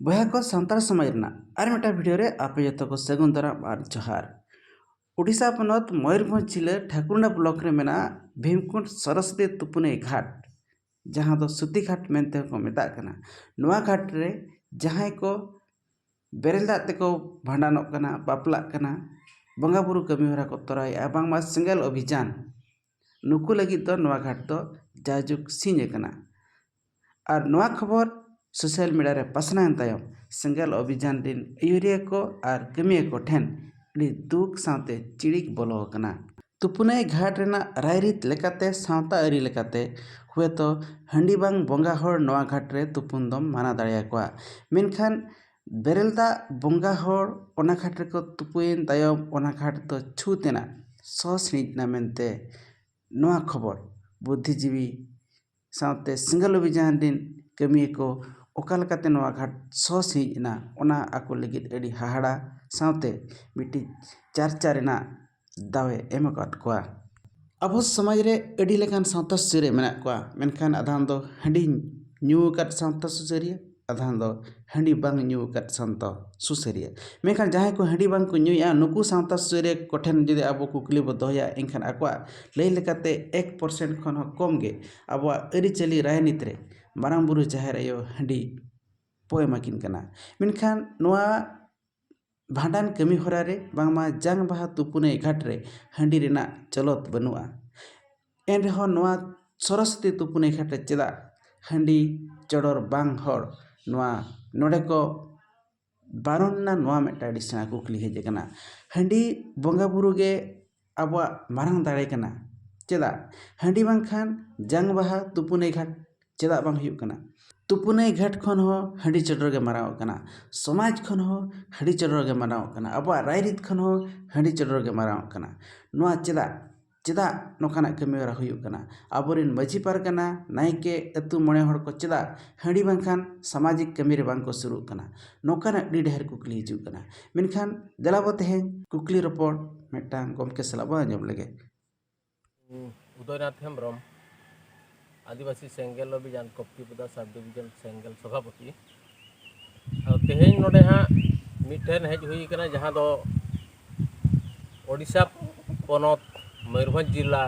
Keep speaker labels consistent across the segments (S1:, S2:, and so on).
S1: ᱵᱚᱭᱦᱟ ᱠᱚ ᱥᱟᱱᱛᱟᱲ ᱥᱚᱢᱟᱡᱽ ᱨᱮᱱᱟᱜ ᱟᱨ ᱢᱤᱫᱴᱟᱝ ᱵᱷᱤᱰᱤᱭᱳ ᱨᱮ ᱟᱯᱮ ᱡᱚᱛᱚ ᱠᱚ ᱥᱟᱹᱜᱩᱱ ᱫᱟᱨᱟᱢ ᱟᱨ ᱡᱚᱦᱟᱨ ᱳᱰᱤᱥᱟ ᱯᱚᱱᱚᱛ ᱢᱚᱭᱩᱨᱵᱷᱚᱸᱡᱽ ᱡᱤᱞᱟᱹ ᱴᱷᱟᱠᱩᱨᱱᱟ ᱵᱞᱚᱠ ᱨᱮ ᱢᱮᱱᱟᱜ ᱵᱷᱤᱢᱠᱩᱸᱰ ᱥᱚᱨᱚᱥᱚᱛᱤ ᱛᱩᱯᱩᱱᱟᱹᱭ ᱜᱷᱟᱴ ᱡᱟᱦᱟᱸ ᱫᱚ ᱥᱩᱛᱤ ᱜᱷᱟᱴ ᱢᱮᱱᱛᱮ ᱦᱚᱸᱠᱚ ᱢᱮᱛᱟᱜ ᱠᱟᱱᱟ ᱱᱚᱣᱟ ᱜᱷᱟᱴ ᱨᱮ ᱡᱟᱦᱟᱸᱭ ᱠᱚ ᱵᱮᱨᱮᱞ ᱫᱟᱜ ᱛᱮᱠᱚ ᱵᱷᱟᱸᱰᱟᱱᱚᱜ ᱠᱟᱱᱟ ᱵᱟᱯᱞᱟᱜ ᱠᱟᱱᱟ ᱵᱚᱸᱜᱟᱼᱵᱩᱨᱩ ᱠᱟᱹᱢᱤᱦᱚᱨᱟ ᱠᱚ ᱛᱚᱨᱟᱣᱮᱫᱼᱟ ᱵᱟᱝᱢᱟ ᱥᱮᱸᱜᱮᱞ ᱚᱵᱷᱤᱡᱟᱱ ᱱᱩᱠᱩ ᱞᱟᱹᱜᱤᱫ ᱫᱚ ᱱᱚᱣᱟ ᱜᱷᱟᱴ ᱫᱚ ᱡᱟᱭᱡᱩᱜᱽ ᱥᱤᱧ ᱟᱠᱟᱱᱟ ᱟᱨ ᱱᱚᱣᱟ ᱠᱷᱚᱵᱚᱨ ᱥᱳᱥᱟᱞ ᱢᱤᱰᱤᱭᱟ ᱨᱮ ᱯᱟᱥᱱᱟᱣ ᱮᱱ ᱛᱟᱭᱚᱢ ᱥᱮᱸᱜᱮᱞ ᱚᱵᱷᱤᱡᱟᱱ ᱨᱮᱱ ᱟᱹᱭᱩᱨᱤᱭᱟᱹ ᱠᱚ ᱟᱨ ᱠᱟᱹᱢᱤᱭᱟᱹ ᱠᱚ ᱴᱷᱮᱱ ᱟᱹᱰᱤ ᱫᱩᱠ ᱥᱟᱶᱛᱮ ᱪᱤᱲᱤᱠ ᱵᱚᱞᱚ ᱟᱠᱟᱱᱟ ᱛᱩᱯᱩᱱᱟᱹᱭ ᱜᱷᱟᱴ ᱨᱮᱱᱟᱜ ᱨᱟᱭᱨᱤᱛ ᱞᱮᱠᱟᱛᱮ ᱥᱟᱶᱛᱟ ᱟᱹᱨᱤ ᱞᱮᱠᱟᱛᱮ ᱦᱳᱭᱛᱳ ᱦᱟᱺᱰᱤ ᱵᱟᱝ ᱵᱚᱸᱜᱟ ᱦᱚᱲ ᱱᱚᱣᱟ ᱜᱷᱟᱴ ᱨᱮ ᱛᱩᱯᱩᱱ ᱫᱚᱢ ᱢᱟᱱᱟ ᱫᱟᱲᱮ ᱟᱠᱚᱣᱟ ᱢᱮᱱᱠᱷᱟᱱ ᱵᱮᱨᱮᱞ ᱫᱟᱜ ᱵᱚᱸᱜᱟ ᱦᱚᱲ ᱚᱱᱟ ᱜᱷᱟᱴ ᱨᱮᱠᱚ ᱛᱩᱯᱩᱭᱮᱱ ᱛᱟᱭᱚᱢ ᱚᱱᱟ ᱜᱷᱟᱴ ᱫᱚ ᱪᱷᱩᱸᱛ ᱮᱱᱟ ᱥᱚ ᱥᱤᱬᱤᱡ ᱮᱱᱟ ᱢᱮᱱᱛᱮ ᱱᱚᱣᱟ ᱠᱷᱚᱵᱚᱨ ᱵᱩᱫᱽᱫᱷᱤ ᱡᱤᱵᱤ ᱥᱟᱶᱛᱮ ᱥᱮᱸᱜᱮᱞ ᱚᱵᱷᱤᱡᱟᱱ ᱨᱮᱱ ᱠᱟᱹᱢᱤᱭᱟᱹ ᱠᱚ ᱚᱠᱟ ᱞᱮᱠᱟᱛᱮ ᱱᱚᱣᱟ ᱜᱷᱟᱴ ᱥᱚ ᱥᱤᱬᱤᱡ ᱮᱱᱟ ᱚᱱᱟ ᱟᱠᱚ ᱞᱟᱹᱜᱤᱫ ᱟᱹᱰᱤ ᱦᱟᱦᱟᱲᱟ ᱥᱟᱶᱛᱮ ᱢᱤᱫᱴᱤᱡ ᱪᱟᱨᱪᱟ ᱨᱮᱱᱟᱜ ᱫᱟᱣᱮ ᱮᱢ ᱟᱠᱟᱫ ᱠᱚᱣᱟ ᱟᱵᱚ ᱥᱚᱢᱟᱡᱽ ᱨᱮ ᱟᱹᱰᱤ ᱞᱮᱠᱟᱱ ᱥᱟᱶᱛᱟ ᱥᱩᱥᱟᱹᱨᱤᱭᱟᱹ ᱢᱮᱱᱟᱜ ᱠᱚᱣᱟ ᱢᱮᱱᱠᱷᱟᱱ ᱟᱫᱷᱟᱱ ᱫᱚ ᱦᱟᱺᱰᱤ ᱧᱩ ᱟᱠᱟᱫ ᱥᱟᱶᱛᱟ ᱥᱩᱥᱟᱹᱨᱤᱭᱟᱹ ᱟᱫᱷᱟᱱ ᱫᱚ ᱦᱟᱺᱰᱤ ᱵᱟᱝ ᱧᱩ ᱟᱠᱟᱫ ᱥᱟᱶᱛᱟ ᱥᱩᱥᱟᱹᱨᱤᱭᱟᱹ ᱢᱮᱱᱠᱷᱟᱱ ᱡᱟᱦᱟᱸᱭ ᱠᱚ ᱦᱟᱺᱰᱤ ᱵᱟᱝᱠᱚ ᱧᱩᱭᱮᱫᱼᱟ ᱱᱩᱠᱩ ᱥᱟᱶᱛᱟ ᱥᱩᱥᱟᱹᱨᱤᱭᱟᱹ ᱠᱚᱴᱷᱮᱱ ᱡᱩᱫᱤ ᱟᱵᱚ ᱠᱩᱠᱞᱤ ᱵᱚᱱ ᱫᱚᱦᱚᱭᱟ ᱮᱱᱠᱷᱟᱱ ᱟᱠᱚᱣᱟᱜ ᱞᱟᱹᱭ ᱞᱮᱠᱟᱛᱮ ᱮᱠ ᱯᱟᱨᱥᱮᱱᱴ ᱠᱷᱚᱱ ᱦᱚᱸ ᱠᱚᱢ ᱜᱮ ᱟᱵᱚᱣᱟᱜ ᱟᱹᱨᱤᱪᱟᱹᱞᱤ ᱨᱟᱡᱽᱱᱤᱛᱤ ᱨᱮ ᱢᱟᱨᱟᱝ ᱵᱩᱨᱩ ᱡᱟᱦᱮᱨ ᱟᱭᱳ ᱦᱟᱺᱰᱤ ᱠᱚ ᱮᱢᱟ ᱠᱤᱱ ᱠᱟᱱᱟ ᱢᱮᱱᱠᱷᱟᱱ ᱱᱚᱣᱟ ᱵᱷᱟᱸᱰᱟᱱ ᱠᱟᱹᱢᱤ ᱦᱚᱨᱟ ᱨᱮ ᱵᱟᱝᱢᱟ ᱡᱟᱝ ᱵᱟᱦᱟ ᱛᱩᱯᱩᱱᱟᱹᱭ ᱜᱷᱟᱴ ᱨᱮ ᱦᱟᱺᱰᱤ ᱨᱮᱱᱟᱜ ᱪᱚᱞᱚᱛ ᱵᱟᱹᱱᱩᱜᱼᱟ ᱮᱱ ᱨᱮᱦᱚᱸ ᱱᱚᱣᱟ ᱥᱚᱨᱚᱥᱚᱛᱤ ᱛᱩᱯᱩᱱᱟᱹᱭ ᱜᱷᱟᱴ ᱨᱮ ᱪᱮᱫᱟᱜ ᱦᱟᱺᱰᱤ ᱪᱚᱰᱚᱨ ᱵᱟᱝ ᱦᱚᱲ ᱱᱚᱣᱟ ᱱᱚᱰᱮ ᱠᱚ ᱵᱟᱨᱚᱱ ᱮᱱᱟ ᱱᱚᱣᱟ ᱢᱤᱫᱴᱟᱱ ᱟᱹᱰᱤ ᱥᱮᱬᱟ ᱠᱩᱠᱞᱤ ᱦᱮᱡ ᱠᱟᱱᱟ ᱦᱟᱺᱰᱤ ᱵᱚᱸᱜᱟᱼᱵᱩᱨᱩ ᱜᱮ ᱟᱵᱚᱣᱟᱜ ᱢᱟᱨᱟᱝ ᱫᱟᱲᱮ ᱠᱟᱱᱟ ᱪᱮᱫᱟᱜ ᱦᱟᱺᱰᱤ ᱵᱟᱝᱠᱷᱟᱱ ᱡᱟᱝ ᱵᱟᱦᱟ ᱛᱩᱯᱩᱱᱟᱹᱭ ᱜᱷᱟᱴ ᱪᱮᱫᱟᱜ ᱵᱟᱝ ᱦᱩᱭᱩᱜ ᱠᱟᱱᱟ ᱛᱩᱯᱩᱱᱟᱹᱭ ᱜᱷᱟᱴ ᱠᱷᱚᱱ ᱦᱚᱸ ᱦᱟᱺᱰᱤ ᱪᱚᱰᱚᱨ ᱜᱮ ᱢᱟᱨᱟᱝ ᱚᱜ ᱠᱟᱱᱟ ᱥᱚᱢᱟᱡᱽ ᱠᱷᱚᱱ ᱦᱚᱸ ᱦᱟᱺᱰᱤ ᱪᱚᱰᱚᱨ ᱜᱮ ᱢᱟᱨᱟᱝ ᱚᱜ ᱠᱟᱱᱟ ᱟᱵᱚᱣᱟᱜ ᱨᱟᱭ ᱨᱤᱛ ᱠᱷᱚᱱ ᱦᱚᱸ ᱦᱟᱺᱰᱤ ᱪᱚᱰᱚᱨ ᱜᱮ ᱢᱟᱨᱟᱝ ᱚᱜ ᱠᱟᱱᱟ ᱱᱚᱣᱟ ᱪᱮᱫᱟᱜ ᱪᱮᱫᱟᱜ ᱱᱚᱝᱠᱟᱱᱟᱜ ᱠᱟᱹᱢᱤ ᱦᱚᱨᱟ ᱦᱩᱭᱩᱜ ᱠᱟᱱᱟ ᱟᱵᱚᱨᱮᱱ ᱢᱟᱹᱡᱷᱤ ᱯᱟᱨᱜᱟᱱᱟ ᱱᱟᱭᱠᱮ ᱟᱛᱳ ᱢᱚᱬᱮ ᱦᱚᱲ ᱠᱚ ᱪᱮᱫᱟᱜ ᱦᱟᱺᱰᱤ ᱵᱟᱝᱠᱷᱟᱱ ᱥᱟᱢᱟᱡᱤᱠ ᱠᱟᱹᱢᱤᱨᱮ ᱵᱟᱝᱠᱚ ᱥᱩᱨᱩᱜ ᱠᱟᱱᱟ ᱱᱚᱝᱠᱟᱱᱟᱜ ᱟᱹᱰᱤ ᱰᱷᱮᱨ ᱠᱩᱠᱞᱤ ᱦᱤᱡᱩᱜ ᱠᱟᱱᱟ ᱢᱮᱱᱠᱷᱟᱱ ᱫᱮᱞᱟ ᱵᱚᱱ ᱛᱮᱦᱮᱧ ᱠᱩᱠᱞᱤ ᱨᱚᱯᱚᱲ ᱢᱤᱫᱴᱟᱝ ᱜᱚᱢᱠᱮ ᱥᱟᱞᱟᱜ ᱵᱚᱱ ᱟᱸᱡᱚᱢ ᱞᱮᱜᱮ ᱩᱫᱚᱭᱱᱟᱛᱷ
S2: ᱦᱮᱢᱵᱨᱚᱢ ᱟᱹᱫᱤᱵᱟᱹᱥᱤ ᱥᱮᱸᱜᱮᱞ ᱚᱵᱷᱤᱡᱟᱱ ᱠᱚᱯᱴᱤᱯᱩᱫᱟ ᱥᱟᱵ ᱰᱤᱵᱷᱤᱡᱚᱱ ᱥᱮᱸᱜᱮᱞ ᱥᱚᱵᱷᱟᱯᱚᱛᱤ ᱟᱫᱚ ᱛᱮᱦᱮᱧ ᱱᱚᱰᱮ ᱦᱟᱸᱜ ᱢᱤᱫᱴᱷᱮᱱ ᱦᱮᱡ ᱦᱩᱭ ᱠᱟᱱᱟ ᱡᱟᱦᱟᱸ ᱫᱚ ᱳᱰᱤᱥᱟ ᱯᱚᱱᱚᱛ ᱢᱚᱭᱩᱨᱵᱷᱚᱸᱡᱽ ᱡᱮᱞᱟ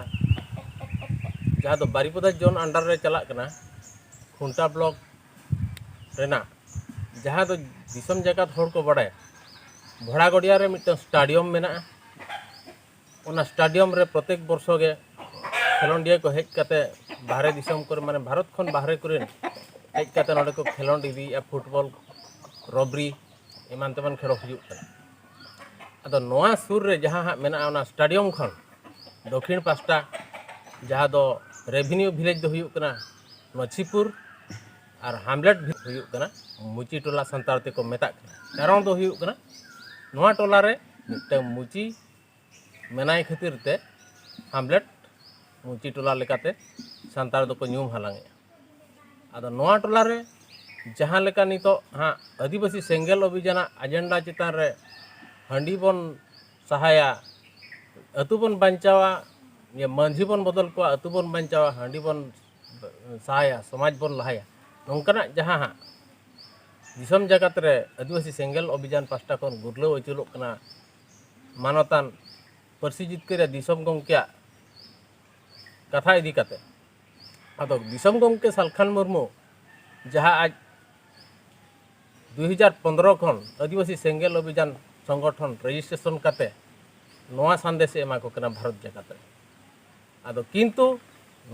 S2: ᱡᱟᱦᱟᱸ ᱫᱚ ᱵᱟᱨᱤᱯᱟᱫᱟ ᱡᱳᱱ ᱟᱱᱰᱟᱨ ᱨᱮ ᱪᱟᱞᱟᱜ ᱠᱟᱱᱟ ᱠᱷᱩᱱᱴᱟ ᱵᱞᱚᱠ ᱨᱮᱱᱟᱜ ᱡᱟᱦᱟᱸ ᱫᱚ ᱫᱤᱥᱚᱢ ᱡᱟᱠᱟᱛ ᱦᱚᱲ ᱠᱚ ᱵᱟᱰᱟᱭᱟ ᱵᱷᱚᱲᱟ ᱜᱚᱰᱤᱭᱟ ᱨᱮ ᱢᱤᱫᱴᱟᱝ ᱥᱴᱟᱰᱤᱭᱟᱢ ᱢᱮᱱᱟᱜᱼᱟ ᱚᱱᱟ ᱥᱴᱟᱰᱤᱭᱟᱢ ᱨᱮ ᱯᱨᱚᱛᱮᱠ ᱵᱚᱨᱥᱚ ᱜᱮ ᱠᱷᱮᱞᱳᱰᱤᱭᱟᱹ ᱠᱚ ᱦᱮᱡ ᱠᱟᱛᱮ ᱵᱟᱦᱨᱮ ᱫᱤᱥᱚᱢ ᱠᱚᱨᱮ ᱢᱟᱱᱮ ᱵᱷᱟᱨᱚᱛ ᱠᱷᱚᱱ ᱵᱟᱦᱨᱮ ᱠᱚᱨᱮᱱ ᱦᱮᱡ ᱠᱟᱛᱮ ᱱᱚᱰᱮ ᱠᱚ ᱠᱷᱮᱞᱳᱰ ᱤᱫᱤᱭᱮᱫᱼᱟ ᱯᱷᱩᱴᱵᱚᱞ ᱨᱚᱵᱨᱤ ᱮᱢᱟᱱ ᱛᱮᱢᱟᱱ ᱠᱷᱮᱞ ᱦᱩᱭᱩᱜ ᱠᱟᱱᱟ ᱟᱫᱚ ᱱᱚᱣᱟ ᱥᱩᱨ ᱨᱮ ᱡᱟᱦᱟᱸ ᱦᱟᱸᱜ ᱢᱮᱱᱟᱜᱼᱟ ᱚᱱᱟ ᱥᱴᱟᱰᱤᱭᱟᱢ ᱠᱷᱚᱱ ᱫᱚᱠᱷᱤᱱ ᱯᱟᱥᱴᱟ ᱡᱟᱦᱟᱸ ᱫᱚ ᱨᱮᱵᱷᱤᱱᱤᱭᱩ ᱵᱷᱤᱞᱮᱡᱽ ᱫᱚ ᱦᱩᱭᱩᱜ ᱠᱟᱱᱟ ᱢᱟᱹᱪᱷᱤᱯᱩᱨ ᱟᱨ ᱦᱟᱢᱞᱮᱴ ᱵᱷᱤᱛ ᱦᱩᱭᱩᱜ ᱠᱟᱱᱟ ᱢᱩᱪᱤ ᱴᱚᱞᱟ ᱥᱟᱱᱛᱟᱲ ᱛᱮᱠᱚ ᱢᱮᱛᱟᱜ ᱠᱟᱱᱟ ᱠᱟᱨᱚᱱ ᱫᱚ ᱦᱩᱭᱩᱜ ᱠᱟᱱᱟ ᱱᱚᱣᱟ ᱴᱚᱞᱟ ᱨᱮ ᱢᱤᱫᱴᱟᱝ ᱢᱩᱪᱤ ᱢᱮᱱᱟᱭ ᱠᱷᱟᱹᱛᱤᱨ ᱛᱮ ᱦᱟᱢᱞᱮᱴ ᱢᱩᱪᱤ ᱴᱚᱞᱟ ᱞᱮᱠᱟᱛᱮ ᱥᱟᱱᱛᱟᱲ ᱫᱚᱠᱚ ᱧᱩᱢ ᱦᱟᱞᱟᱝᱮᱜᱼᱟ ᱟᱫᱚ ᱱᱚᱣᱟ ᱴᱚᱞᱟ ᱨᱮ ᱡᱟᱦᱟᱸ ᱞᱮᱠᱟ ᱱᱤᱛᱚᱜ ᱦᱟᱸᱜ ᱟᱹᱫᱤᱵᱟᱹᱥᱤ ᱥᱮᱸᱜᱮᱞ ᱚᱵᱷᱤᱡᱟᱱᱟᱜ ᱮᱡᱮᱱᱰᱟ ᱪᱮᱛᱟᱱ ᱨᱮ ᱦᱟᱺᱰᱤ ᱵᱚᱱ ᱥᱟᱦᱟᱭᱟ ᱟᱹᱛᱩ ᱵᱚᱱ ᱵᱟᱧᱪᱟᱣᱟ ᱢᱟᱹᱡᱷᱤ ᱵᱚᱱ ᱵᱚᱫᱚᱞ ᱠᱚᱣᱟ ᱟᱹᱛᱩ ᱵᱚᱱ ᱵᱟᱧᱪᱟᱣᱟ ᱦᱟᱺᱰᱤ ᱵᱚᱱ ᱥᱟᱦᱟᱭᱟ ᱥᱚᱢᱟᱡᱽ ᱵᱚᱱ ᱞᱟᱦᱟᱭᱟ ᱱᱚᱝᱠᱟᱱᱟᱜ ᱡᱟᱦᱟᱸ ᱦᱟᱸᱜ ᱫᱤᱥᱚᱢ ᱡᱟᱠᱟᱛ ᱨᱮ ᱟᱹᱫᱤᱵᱟᱹᱥᱤ ᱥᱮᱸᱜᱮᱞ ᱚᱵᱷᱤᱡᱟᱱ ᱯᱟᱥᱴᱟ ᱠᱷᱚᱱ ᱜᱩᱨᱞᱟᱹᱣ ᱟᱹᱪᱩᱨᱚᱜ ᱠᱟᱱᱟ ᱢᱟᱱᱚᱛᱟᱱ ᱯᱟᱹᱨᱥᱤ ᱡᱤᱛᱠᱟᱹᱨ ᱫᱤᱥᱚᱢ ᱜᱚᱢᱠᱮᱭᱟᱜ ᱠᱟᱛᱷᱟ ᱤᱫᱤ ᱠᱟᱛᱮ ᱟᱫᱚ ᱫᱤᱥᱚᱢ ᱜᱚᱢᱠᱮ ᱥᱟᱞᱠᱷᱟᱱ ᱢᱩᱨᱢᱩ ᱡᱟᱦᱟᱸ ᱟᱡ ᱫᱩᱭ ᱦᱟᱡᱟᱨ ᱯᱚᱱᱫᱽᱨᱚ ᱠᱷᱚᱱ ᱟᱹᱫᱤᱵᱟᱹᱥᱤ ᱥᱮᱸᱜᱮᱞ ᱚᱵᱷᱤᱡᱟᱱ ᱥᱚᱝᱜᱚᱴᱷᱚᱱ ᱨᱮᱡᱤᱥᱴᱨᱮᱥᱚᱱ ᱠᱟᱛᱮ ᱱᱚᱣᱟ ᱥᱟᱸᱫᱮᱥ ᱮ ᱮᱢᱟ ᱠᱚ ᱠᱟᱱᱟ ᱵᱷᱟᱨᱚᱛ ᱡᱟᱠᱟᱛ ᱨᱮ ᱟᱫᱚ ᱠᱤᱱᱛᱩ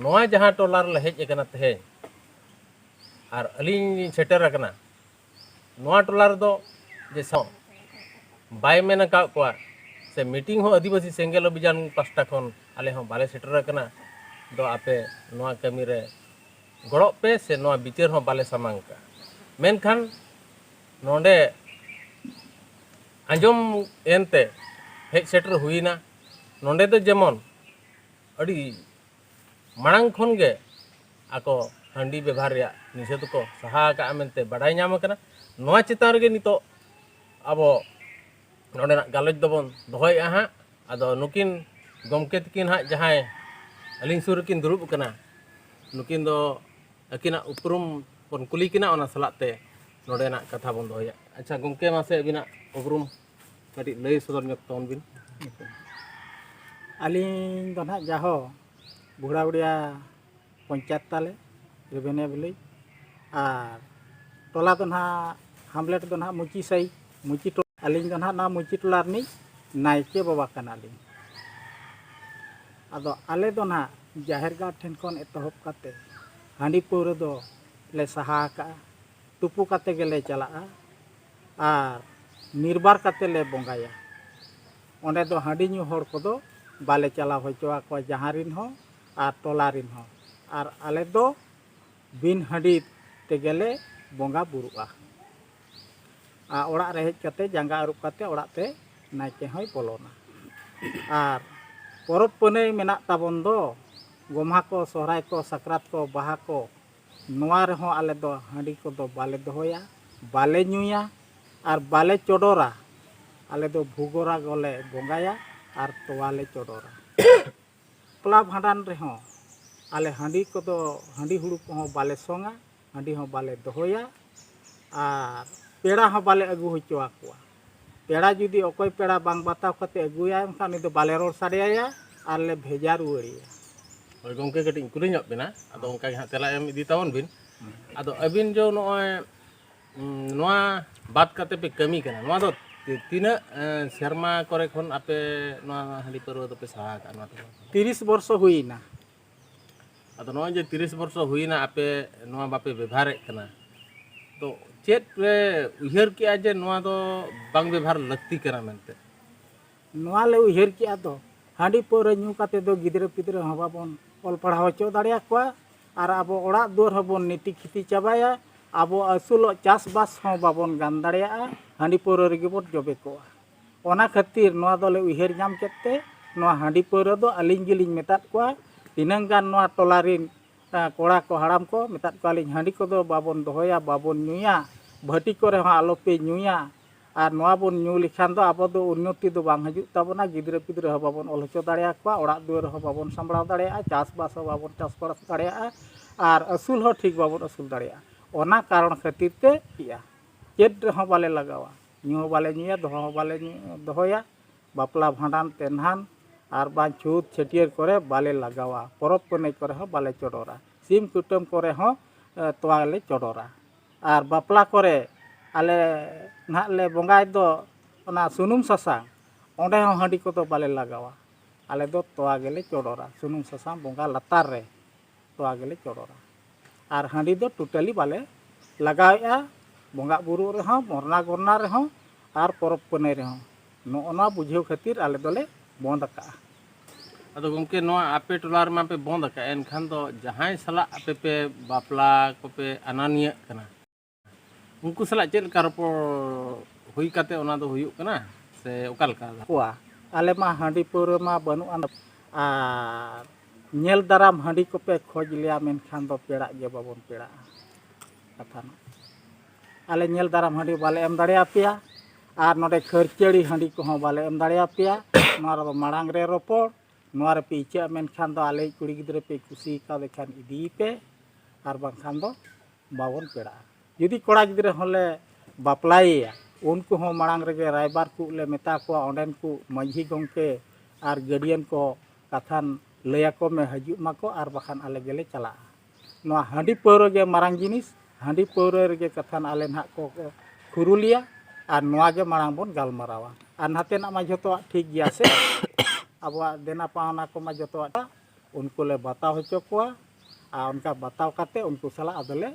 S2: ᱱᱚᱣᱟ ᱡᱟᱦᱟᱸ ᱴᱚᱞᱟ ᱨᱮᱞᱮ ᱦᱮᱡ ᱟᱠᱟᱱᱟ ᱛᱮᱦᱮᱧ ᱟᱨ ᱟᱹᱞᱤᱧ ᱞᱤᱧ ᱥᱮᱴᱮᱨ ᱟᱠᱟᱱᱟ ᱱᱚᱣᱟ ᱴᱚᱞᱟ ᱨᱮᱫᱚ ᱡᱮ ᱥᱟᱶ ᱵᱟᱭ ᱢᱮᱱ ᱟᱠᱟᱫ ᱠᱚᱣᱟ ᱥᱮ ᱢᱤᱴᱤᱝ ᱦᱚᱸ ᱟᱹᱫᱤᱵᱟᱹᱥᱤ ᱥᱮᱸᱜᱮᱞ ᱚᱵᱷᱤᱡᱟᱱ ᱯᱟᱥᱴᱟ ᱠᱷᱚᱱ ᱟᱞᱮ ᱦᱚᱸ ᱵᱟᱞᱮ ᱥᱮᱴᱮᱨ ᱟᱠᱟᱱᱟ ᱫᱚ ᱟᱯᱮ ᱱᱚᱣᱟ ᱠᱟᱹᱢᱤ ᱨᱮ ᱜᱚᱲᱚᱜ ᱯᱮ ᱥᱮ ᱱᱚᱣᱟ ᱵᱤᱪᱟᱹᱨ ᱦᱚᱸ ᱵᱟᱞᱮ ᱥᱟᱢᱟᱝ ᱠᱟᱜᱼᱟ ᱢᱮᱱᱠᱷᱟᱱ ᱱᱚᱰᱮ ᱟᱸᱡᱚᱢ ᱮᱱᱛᱮ ᱦᱮᱡ ᱥᱮᱴᱮᱨ ᱦᱩᱭᱮᱱᱟ ᱱᱚᱰᱮ ᱫᱚ ᱡᱮᱢᱚᱱ ᱟᱹᱰᱤ ᱢᱟᱲᱟᱝ ᱠᱷᱚᱱ ᱜᱮ ᱟᱠᱚ ᱦᱟᱺᱰᱤ ᱵᱮᱵᱷᱟᱨ ᱨᱮᱭᱟᱜ ᱱᱤᱥᱮᱫᱷ ᱠᱚ ᱥᱟᱦᱟ ᱟᱠᱟᱜᱼᱟ ᱢᱮᱱᱛᱮ ᱵᱟᱰᱟᱭ ᱧᱟᱢ ᱟᱠᱟᱱᱟ ᱱᱚᱣᱟ ᱪᱮᱛᱟᱱ ᱨᱮᱜᱮ ᱱᱤᱛᱚᱜ ᱟᱵᱚ ᱱᱚᱰᱮᱱᱟᱜ ᱜᱟᱞᱚᱪ ᱫᱚᱵᱚᱱ ᱫᱚᱦᱚᱭᱮᱫᱼᱟ ᱦᱟᱸᱜ ᱟᱫᱚ ᱱᱩᱠᱤᱱ ᱜᱚᱢᱠᱮ ᱛᱟᱹᱠᱤᱱ ᱦᱟᱸᱜ ᱡᱟᱦᱟᱸᱭ ᱟᱹᱞᱤᱧ ᱥᱩᱨ ᱨᱮᱠᱤᱱ ᱫᱩᱲᱩᱵ ᱟᱠᱟᱱᱟ ᱱᱩᱠᱤᱱ ᱫᱚ ᱟᱹᱠᱤᱱᱟᱜ ᱩᱯᱨᱩᱢ ᱵᱚᱱ ᱠᱩᱞᱤ ᱠᱤᱱᱟ ᱚᱱᱟ ᱥᱟᱞᱟᱜ ᱛᱮ ᱱᱚᱰᱮᱱᱟᱜ ᱠᱟᱛᱷᱟ ᱵᱚᱱ ᱫᱚᱦᱚᱭᱟ ᱟᱪᱪᱷᱟ ᱜᱚᱢᱠᱮ ᱢᱟᱥᱮ ᱟᱹᱵᱤᱱᱟᱜ ᱩᱯᱨᱩᱢ ᱠᱟᱹᱴᱤᱡ ᱞᱟᱹᱭ ᱥᱚᱫᱚᱨ ᱧᱚᱜ ᱛᱟᱵᱚᱱ ᱵᱤᱱ ᱟᱹᱞᱤᱧ
S3: ᱫᱚ ᱱᱟᱦᱟᱜ ᱡᱟᱦᱳ ᱜᱷᱳᱲᱟᱵᱩᱲᱤᱭᱟ ᱯᱚᱧᱪᱟᱭᱮᱛ ᱛᱟᱞᱮ ᱨᱮᱵᱮᱱᱤᱭᱟ ᱵᱷᱤᱞᱮᱡᱽ ᱟᱨ ᱴᱚᱞᱟ ᱫᱚ ᱱᱟᱦᱟᱜ ᱦᱟᱢᱞᱮᱴ ᱫᱚ ᱱᱟᱦᱟᱜ ᱢᱩᱪᱤ ᱥᱟᱭ ᱢᱩᱪᱤ ᱴᱚᱞᱟ ᱟᱹᱞᱤᱧ ᱫᱚ ᱱᱟᱦᱟᱜ ᱱᱚᱣᱟ ᱢᱩᱪᱤ ᱴᱚᱞᱟ ᱨᱤᱱᱤᱡ ᱱᱟᱭᱠᱮ ᱵᱟᱵᱟ ᱠᱟᱱᱟᱞᱤᱧ ᱟᱫᱚ ᱟᱞᱮ ᱫᱚ ᱱᱟᱦᱟᱜ ᱡᱟᱦᱮᱨ ᱜᱟᱲ ᱴᱷᱮᱱ ᱠᱷᱚᱱ ᱮᱛᱚᱦᱚᱵ ᱠᱟᱛᱮ ᱦᱟᱺᱰᱤ ᱯᱟᱹᱣᱨᱟᱹ ᱫᱚ ᱞᱮ ᱥᱟᱦᱟ ᱟᱠᱟᱜᱼᱟ ᱛᱩᱯᱩ ᱠᱟᱛᱮ ᱜᱮᱞᱮ ᱪᱟᱞᱟᱜᱼᱟ ᱟᱨ ᱱᱤᱨᱵᱟᱨ ᱠᱟᱛᱮ ᱞᱮ ᱵᱚᱸᱜᱟᱭᱟ ᱚᱸᱰᱮ ᱫᱚ ᱦᱟᱺᱰᱤ ᱧᱩ ᱦᱚᱲ ᱠᱚᱫᱚ ᱵᱟᱞᱮ ᱪᱟᱞᱟᱣ ᱦᱚᱪᱚ ᱟᱠᱚᱣᱟ ᱡᱟᱦᱟᱸ ᱨᱤᱱ ᱦᱚᱸ ᱟᱨ ᱴᱚᱞᱟ ᱨᱤᱱ ᱦᱚᱲ ᱟᱨ ᱟᱞᱮ ᱫᱚ ᱵᱤᱱ ᱦᱟᱺᱰᱤ ᱛᱮᱜᱮ ᱞᱮ ᱵᱚᱸᱜᱟ ᱵᱩᱨᱩᱜᱼᱟ ᱟᱨ ᱚᱲᱟᱜ ᱨᱮ ᱦᱮᱡ ᱠᱟᱛᱮ ᱡᱟᱸᱜᱟ ᱟᱹᱨᱩᱵ ᱠᱟᱛᱮ ᱚᱲᱟᱜ ᱛᱮ ᱱᱟᱭᱠᱮ ᱦᱚᱸᱭ ᱵᱚᱞᱚᱱᱟ ᱟᱨ ᱯᱚᱨᱚᱵᱽ ᱯᱩᱱᱟᱹᱭ ᱢᱮᱱᱟᱜ ᱛᱟᱵᱚᱱ ᱫᱚ ᱜᱚᱢᱦᱟ ᱠᱚ ᱥᱚᱦᱨᱟᱭ ᱠᱚ ᱥᱟᱠᱨᱟᱛ ᱠᱚ ᱵᱟᱦᱟ ᱠᱚ ᱱᱚᱣᱟ ᱨᱮᱦᱚᱸ ᱟᱞᱮ ᱫᱚ ᱦᱟᱺᱰᱤ ᱠᱚᱫᱚ ᱵᱟᱞᱮ ᱫᱚᱦᱚᱭᱟ ᱵᱟᱞᱮ ᱧᱩᱭᱟ ᱟᱨ ᱵᱟᱞᱮ ᱪᱚᱰᱚᱨᱟ ᱟᱞᱮ ᱫᱚ ᱵᱷᱩᱜᱚᱨᱟᱜᱚ ᱞᱮ ᱵᱚᱸᱜᱟᱭᱟ ᱟᱨ ᱛᱚᱣᱟ ᱞᱮ ᱪᱚᱰᱚᱨᱟ ᱵᱟᱯᱞᱟ ᱵᱷᱟᱸᱰᱟᱱ ᱨᱮᱦᱚᱸ ᱟᱞᱮ ᱦᱟᱺᱰᱤ ᱠᱚᱫᱚ ᱦᱟᱺᱰᱤ ᱦᱩᱲᱩ ᱠᱚᱦᱚᱸ ᱵᱟᱞᱮ ᱥᱚᱝᱟ ᱦᱟᱺᱰᱤ ᱦᱚᱸ ᱵᱟᱞᱮ ᱫᱚᱦᱚᱭᱟ ᱟᱨ ᱯᱮᱲᱟ ᱦᱚᱸ ᱵᱟᱞᱮ ᱟᱹᱜᱩ ᱦᱚᱪᱚ ᱟᱠᱚᱣᱟ ᱯᱮᱲᱟ ᱡᱩᱫᱤ ᱚᱠᱚᱭ ᱯᱮᱲᱟ ᱵᱟᱝ ᱵᱟᱛᱟᱣ ᱠᱟᱛᱮ ᱟᱹᱜᱩᱭᱟᱭ ᱮᱱᱠᱷᱟᱱ ᱩᱱᱤ ᱫᱚ ᱵᱟᱞᱮ ᱨᱚᱲ ᱥᱟᱰᱮᱭᱟᱭᱟ ᱟᱨ ᱞᱮ ᱵᱷᱮᱡᱟ ᱨᱩᱣᱟᱹᱲᱮᱭᱟ ᱦᱳᱭ ᱜᱚᱢᱠᱮ
S2: ᱠᱟᱹᱴᱤᱡ ᱤᱧ ᱠᱩᱞᱤ ᱧᱚᱜ ᱵᱮᱱᱟ ᱟᱫᱚ ᱚᱱᱠᱟ ᱜᱮ ᱦᱟᱸᱜ ᱛᱮᱞᱟ ᱮᱢ ᱤᱫᱤ ᱛᱟᱵᱚᱱ ᱵᱤᱱ ᱟᱫᱚ ᱟᱹᱵᱤᱱ ᱡᱮ ᱱᱚᱜᱼᱚᱭ ᱱᱚᱣᱟ ᱵᱟᱫ ᱠᱟᱛᱮ ᱯᱮ ᱠᱟᱹᱢᱤ ᱠᱟᱱᱟ ᱱᱚᱣᱟ ᱫᱚ ᱛᱤᱱᱟᱹᱜ ᱥᱮᱨᱢᱟ ᱠᱚᱨᱮ ᱠᱷᱚᱱ ᱟᱯᱮ ᱱᱚᱣᱟ ᱦᱟᱺᱰᱤ ᱯᱟᱹᱨᱣᱟᱹ ᱫᱚᱯᱮ ᱥᱟᱦᱟ ᱟᱠᱟᱫᱼᱟ ᱱᱚᱣᱟ ᱫᱚ ᱛᱤᱨᱤᱥ ᱵᱚᱨᱥᱚ
S3: ᱦᱩᱭᱱᱟ
S2: ᱟᱫᱚ ᱱᱚᱜᱼᱚᱭ ᱡᱮ ᱛᱤᱨᱤᱥ ᱵᱚᱨᱥᱚ ᱦᱩᱭᱱᱟ ᱟᱯᱮ ᱱᱚᱣᱟ ᱵᱟᱯᱮ ᱵᱮᱵᱷᱟᱨᱮᱫ ᱠᱟᱱᱟ ᱛᱚ ᱪᱮᱫ ᱯᱮ ᱩᱭᱦᱟᱹᱨ ᱠᱮᱜᱼᱟ ᱡᱮ ᱱᱚᱣᱟ ᱫᱚ ᱵᱟᱝ ᱵᱮᱵᱷᱟᱨ ᱞᱟᱹᱠᱛᱤ ᱠᱟᱱᱟ ᱢᱮᱱᱛᱮ ᱱᱚᱣᱟ
S3: ᱞᱮ ᱩᱭᱦᱟᱹᱨ ᱠᱮᱜᱼᱟ ᱫᱚ ᱦᱟᱺᱰᱤ ᱯᱟᱹᱣᱨᱟᱹ ᱧᱩ ᱠᱟᱛᱮ ᱫᱚ ᱜᱤᱫᱽᱨᱟᱹ ᱯᱤᱫᱽᱨᱟᱹ ᱦᱚᱸ ᱵᱟᱵᱚᱱ ᱚᱞ ᱯᱟᱲᱦᱟᱣ ᱦᱚᱪᱚ ᱫᱟᱲᱮᱭᱟ ᱠᱚᱣᱟ ᱟᱨ ᱟᱵᱚ ᱚᱲᱟᱜ ᱫᱩᱣᱟᱹᱨ ᱦᱚᱸᱵᱚᱱ ᱱᱤᱛᱤ ᱠᱷᱤᱛᱤ ᱪᱟᱵᱟᱭᱟ ᱟᱵᱚ ᱟᱹᱥᱩᱞᱚᱜ ᱪᱟᱥᱵᱟᱥ ᱦᱚᱸ ᱵᱟᱵᱚᱱ ᱜᱟᱱ ᱫᱟᱲᱮᱭᱟᱜᱼᱟ ᱦᱟᱺᱰᱤ ᱯᱟᱹᱣᱨᱟᱹ ᱨᱮᱜᱮ ᱵᱚᱱ ᱡᱚᱵᱮ ᱠᱚᱜᱼᱟ ᱚᱱᱟ ᱠᱷᱟᱹᱛᱤᱨ ᱱᱚᱣᱟ ᱫᱚᱞᱮ ᱩᱭᱦᱟᱹᱨ ᱧᱟᱢ ᱠᱮᱫ ᱛᱮ ᱱᱚᱣᱟ ᱦᱟᱺᱰᱤ ᱯᱟᱹᱣᱨᱟᱹ ᱫᱚ ᱟᱹᱞᱤᱧ ᱜᱮᱞᱤᱧ ᱢᱮᱛᱟᱫ ᱠᱚᱣᱟ ᱛᱤᱱᱟᱹᱝ ᱜᱟᱱ ᱱᱚᱣᱟ ᱴᱚᱞᱟ ᱨᱤᱱ ᱠᱚᱲᱟ ᱠᱚ ᱦᱟᱲᱟᱢ ᱠᱚ ᱢᱮᱛᱟᱫ ᱠᱚᱣᱟᱞᱤᱧ ᱦᱟᱺᱰᱤ ᱠᱚᱫᱚ ᱵᱟᱵᱚᱱ ᱫᱚᱦᱚᱭᱟ ᱵᱟᱵᱚᱱ ᱧᱩᱭᱟ ᱵᱷᱟᱹᱴᱤ ᱠᱚᱨᱮ ᱦᱚᱸ ᱟᱞᱚᱯᱮ ᱧᱩᱭᱟ ᱟᱨ ᱱᱚᱣᱟ ᱵᱚᱱ ᱧᱩ ᱞᱮᱠᱷᱟᱱ ᱫᱚ ᱟᱵᱚ ᱫᱚ ᱩᱱᱱᱚᱛᱤ ᱫᱚ ᱵᱟᱝ ᱦᱤᱡᱩᱜ ᱛᱟᱵᱚᱱᱟ ᱜᱤᱫᱽᱨᱟᱹ ᱯᱤᱫᱽᱨᱟᱹ ᱦᱚᱸ ᱵᱟᱵᱚᱱ ᱚᱞ ᱦᱚᱪᱚ ᱫᱟᱲᱮᱭᱟᱠᱚᱣᱟ ᱚᱲᱟᱜ ᱫᱩᱣᱟᱹᱨ ᱦᱚᱸ ᱵᱟᱵᱚᱱ ᱥᱟᱢᱵᱽᱲᱟᱣ ᱫᱟᱲᱮᱭᱟᱜᱼᱟ ᱪᱟᱥ ᱵᱟᱥ ᱦᱚᱸ ᱵᱟᱵᱚᱱ ᱪᱟᱥ ᱵᱟᱥ ᱫᱟᱲᱮᱭᱟᱜᱼᱟ ᱟᱨ ᱟᱹᱥᱩᱞ ᱦᱚᱸ ᱴᱷᱤᱠ ᱵᱟᱵᱚᱱ ᱟᱹᱥᱩᱞ ᱫᱟᱲᱮᱭᱟᱜᱼᱟ ᱚᱱᱟ ᱠᱟᱨᱚᱱ ᱠᱷᱟᱹᱛᱤᱨ ᱛᱮ ᱤᱭᱟᱹ ᱪᱮᱫ ᱨᱮᱦᱚᱸ ᱵᱟᱞᱮ ᱞᱟᱜᱟᱣᱟ ᱧᱩ ᱦᱚᱸ ᱵᱟᱞᱮ ᱧᱩᱭᱟ ᱫᱚᱦᱚ ᱦᱚᱸ ᱵᱟᱞᱮ ᱫᱚᱦᱚᱭᱟ ᱵᱟᱯᱞᱟ ᱵᱷᱟᱸᱰᱟᱱ ᱛᱮᱱᱦᱟᱱ ᱟᱨ ᱵᱟᱝ ᱪᱷᱩᱛ ᱪᱷᱟᱹᱴᱭᱟᱹᱨ ᱠᱚᱨᱮ ᱵᱟᱞᱮ ᱞᱟᱜᱟᱣᱟ ᱯᱚᱨᱚᱵᱽ ᱯᱩᱱᱟᱹᱭ ᱠᱚᱨᱮ ᱦᱚᱸ ᱵᱟᱞᱮ ᱪᱚᱰᱚᱨᱟ ᱥᱤᱢ ᱠᱩᱴᱟᱹᱢ ᱠᱚᱨᱮ ᱦᱚᱸ ᱛᱚᱣᱟ ᱞᱮ ᱪᱚᱰᱚᱨᱟ ᱟᱨ ᱵᱟᱯᱞᱟ ᱠᱚᱨᱮ ᱟᱞᱮ ᱱᱟᱦᱟᱜ ᱞᱮ ᱵᱚᱸᱜᱟᱭ ᱫᱚ ᱚᱱᱟ ᱥᱩᱱᱩᱢ ᱥᱟᱥᱟᱝ ᱚᱸᱰᱮ ᱦᱚᱸ ᱦᱟᱺᱰᱤ ᱠᱚᱫᱚ ᱵᱟᱞᱮ ᱞᱟᱜᱟᱣᱟ ᱟᱞᱮ ᱫᱚ ᱛᱚᱣᱟ ᱜᱮᱞᱮ ᱪᱚᱰᱚᱨᱟ ᱥᱩᱱᱩᱢ ᱥᱟᱥᱟᱝ ᱵᱚᱸᱜᱟ ᱞᱟᱛᱟᱨ ᱨᱮ ᱛᱚᱣᱟ ᱜᱮᱞᱮ ᱪᱚᱰᱚᱨᱟ ᱟᱨ ᱦᱟᱺᱰᱤ ᱫᱚ ᱴᱳᱴᱟᱞᱤ ᱵᱟᱞᱮ ᱞᱟᱜᱟᱣᱮᱜᱼᱟ ᱵᱚᱸᱜᱟᱼᱵᱩᱨᱩᱜ ᱨᱮᱦᱚᱸ ᱢᱚᱨᱱᱟ ᱜᱚᱨᱱᱟ ᱨᱮᱦᱚᱸ ᱟᱨ ᱯᱚᱨᱚᱵᱽ ᱯᱩᱱᱟᱹᱭ ᱨᱮᱦᱚᱸ ᱱᱚᱜᱼᱚ ᱱᱚᱣᱟ ᱵᱩᱡᱷᱟᱹᱣ ᱠᱷᱟᱹᱛᱤᱨ ᱟᱞᱮ ᱫᱚᱞᱮ ᱵᱚᱸᱫᱽ ᱟᱠᱟᱫᱼᱟ ᱟᱫᱚ
S2: ᱜᱚᱢᱠᱮ ᱱᱚᱣᱟ ᱟᱯᱮ ᱴᱚᱞᱟ ᱨᱮᱢᱟ ᱯᱮ ᱵᱚᱸᱫᱽ ᱟᱠᱟᱫᱼᱟ ᱮᱱᱠᱷᱟᱱ ᱫᱚ ᱡᱟᱦᱟᱸᱭ ᱥᱟᱞᱟᱜ ᱟᱯᱮ ᱯᱮ ᱵᱟᱯᱞᱟ ᱠᱚᱯᱮ ᱟᱱᱟᱱᱤᱭᱟᱹᱜ ᱠᱟᱱᱟ ᱩᱱᱠᱩ ᱥᱟᱞᱟᱜ ᱪᱮᱫ ᱞᱮᱠᱟ ᱨᱚᱯᱚᱲ ᱦᱩᱭ ᱠᱟᱛᱮ ᱚᱱᱟ ᱫᱚ ᱦᱩᱭᱩᱜ ᱠᱟᱱᱟ ᱥᱮ ᱚᱠᱟ ᱞᱮᱠᱟ ᱠᱚᱣᱟ ᱟᱞᱮ ᱢᱟ
S3: ᱦᱟᱺᱰᱤ ᱯᱟᱹᱣᱨᱟᱹ ᱢᱟ ᱵᱟᱹᱱᱩᱜ ᱟᱱ ᱟᱨ ᱧᱮᱞ ᱫᱟᱨᱟᱢ ᱦᱟᱺᱰᱤ ᱠᱚᱯᱮ ᱠᱷᱚᱡᱽ ᱞᱮᱭᱟ ᱢᱮᱱᱠᱷᱟᱱ ᱫᱚ ᱯᱮᱲᱟᱜ ᱜᱮ ᱵᱟᱵᱚᱱ ᱯᱮᱲᱟᱜᱼᱟ ᱠᱟᱛᱷᱟ ᱢᱟ ᱟᱞᱮ ᱧᱮᱞ ᱫᱟᱨᱟᱢ ᱦᱟᱺᱰᱤ ᱵᱟᱞᱮ ᱮᱢ ᱫᱟᱲᱮ ᱟᱯᱮᱭᱟ ᱟᱨ ᱱᱚᱰᱮ ᱠᱷᱟᱹᱨᱪᱟᱹᱲᱤ ᱦᱟᱺᱰᱤ ᱠᱚᱦᱚᱸ ᱵᱟᱞᱮ ᱮᱢ ᱫᱟᱲᱮ ᱟᱯᱮᱭᱟ ᱱᱚᱣᱟ ᱨᱮᱫᱚ ᱢᱟᱲᱟᱝ ᱨᱮ ᱨᱚᱯᱚᱲ ᱱᱚᱣᱟ ᱨᱮᱯᱮ ᱤᱪᱟᱹᱜᱼᱟ ᱢᱮᱱᱠᱷᱟᱱ ᱫᱚ ᱟᱞᱮᱭᱤᱡ ᱠᱩᱲᱤ ᱜᱤᱫᱽᱨᱟᱹ ᱯᱮ ᱠᱩᱥᱤ ᱠᱟᱣᱫᱮ ᱠᱷᱟᱱ ᱤᱫᱤᱭᱮ ᱯᱮ ᱟᱨ ᱵᱟᱝᱠᱷᱟᱱ ᱫᱚ ᱵᱟᱵᱚᱱ ᱯᱮᱲᱟᱜᱼᱟ ᱡᱩᱫᱤ ᱠᱚᱲᱟ ᱜᱤᱫᱽᱨᱟᱹ ᱦᱚᱸᱞᱮ ᱵᱟᱯᱞᱟᱭᱮᱭᱟ ᱩᱱᱠᱩ ᱦᱚᱸ ᱢᱟᱲᱟᱝ ᱨᱮᱜᱮ ᱨᱟᱭᱵᱟᱨ ᱠᱚ ᱞᱮ ᱢᱮᱛᱟ ᱠᱚᱣᱟ ᱚᱸᱰᱮᱱ ᱠᱚ ᱢᱟᱺᱡᱷᱤ ᱜᱚᱢᱠᱮ ᱟᱨ ᱜᱟᱹᱰᱤᱭᱟᱱ ᱠᱚ ᱠᱟᱛᱷᱟᱱ ᱞᱟᱹᱭᱟᱠᱚ ᱢᱮ ᱦᱤᱡᱩᱜ ᱢᱟᱠᱚ ᱟᱨ ᱵᱟᱠᱷᱟᱱ ᱟᱞᱮ ᱜᱮᱞᱮ ᱪᱟᱞᱟᱜᱼᱟ ᱱᱚᱣᱟ ᱦᱟᱺᱰᱤ ᱯᱟᱹᱣᱨᱟᱹ ᱜᱮ ᱢᱟᱨᱟᱝ ᱡᱤᱱᱤᱥ ᱦᱟᱺᱰᱤ ᱯᱟᱹᱣᱨᱟᱹ ᱨᱮᱜᱮ ᱠᱟᱛᱷᱟᱱ ᱟᱞᱮ ᱱᱟᱦᱟᱜ ᱠᱚ ᱠᱷᱩᱨᱩᱞᱮᱭᱟ ᱟᱨ ᱱᱚᱣᱟ ᱜᱮ ᱢᱟᱲᱟᱝ ᱵᱚᱱ ᱜᱟᱞᱢᱟᱨᱟᱣᱟ ᱟᱨ ᱱᱟᱛᱮᱱᱟᱜ ᱢᱟ ᱡᱚᱛᱚᱣᱟᱜ ᱴᱷᱤᱠ ᱜᱮᱭᱟ ᱥᱮ ᱟᱵᱚᱣᱟᱜ ᱫᱮᱱᱟ ᱯᱟᱣᱱᱟ ᱠᱚᱢᱟ ᱡᱚᱛᱚᱣᱟᱜ ᱩᱱᱠᱩ ᱞᱮ ᱵᱟᱛᱟᱣ ᱦᱚᱪᱚ ᱠᱚᱣᱟ ᱟᱨ ᱚᱱᱠᱟ ᱵᱟᱛᱟᱣ ᱠᱟᱛᱮᱫ ᱩᱱᱠᱩ ᱥᱟᱞᱟᱜ ᱟᱫᱚᱞᱮ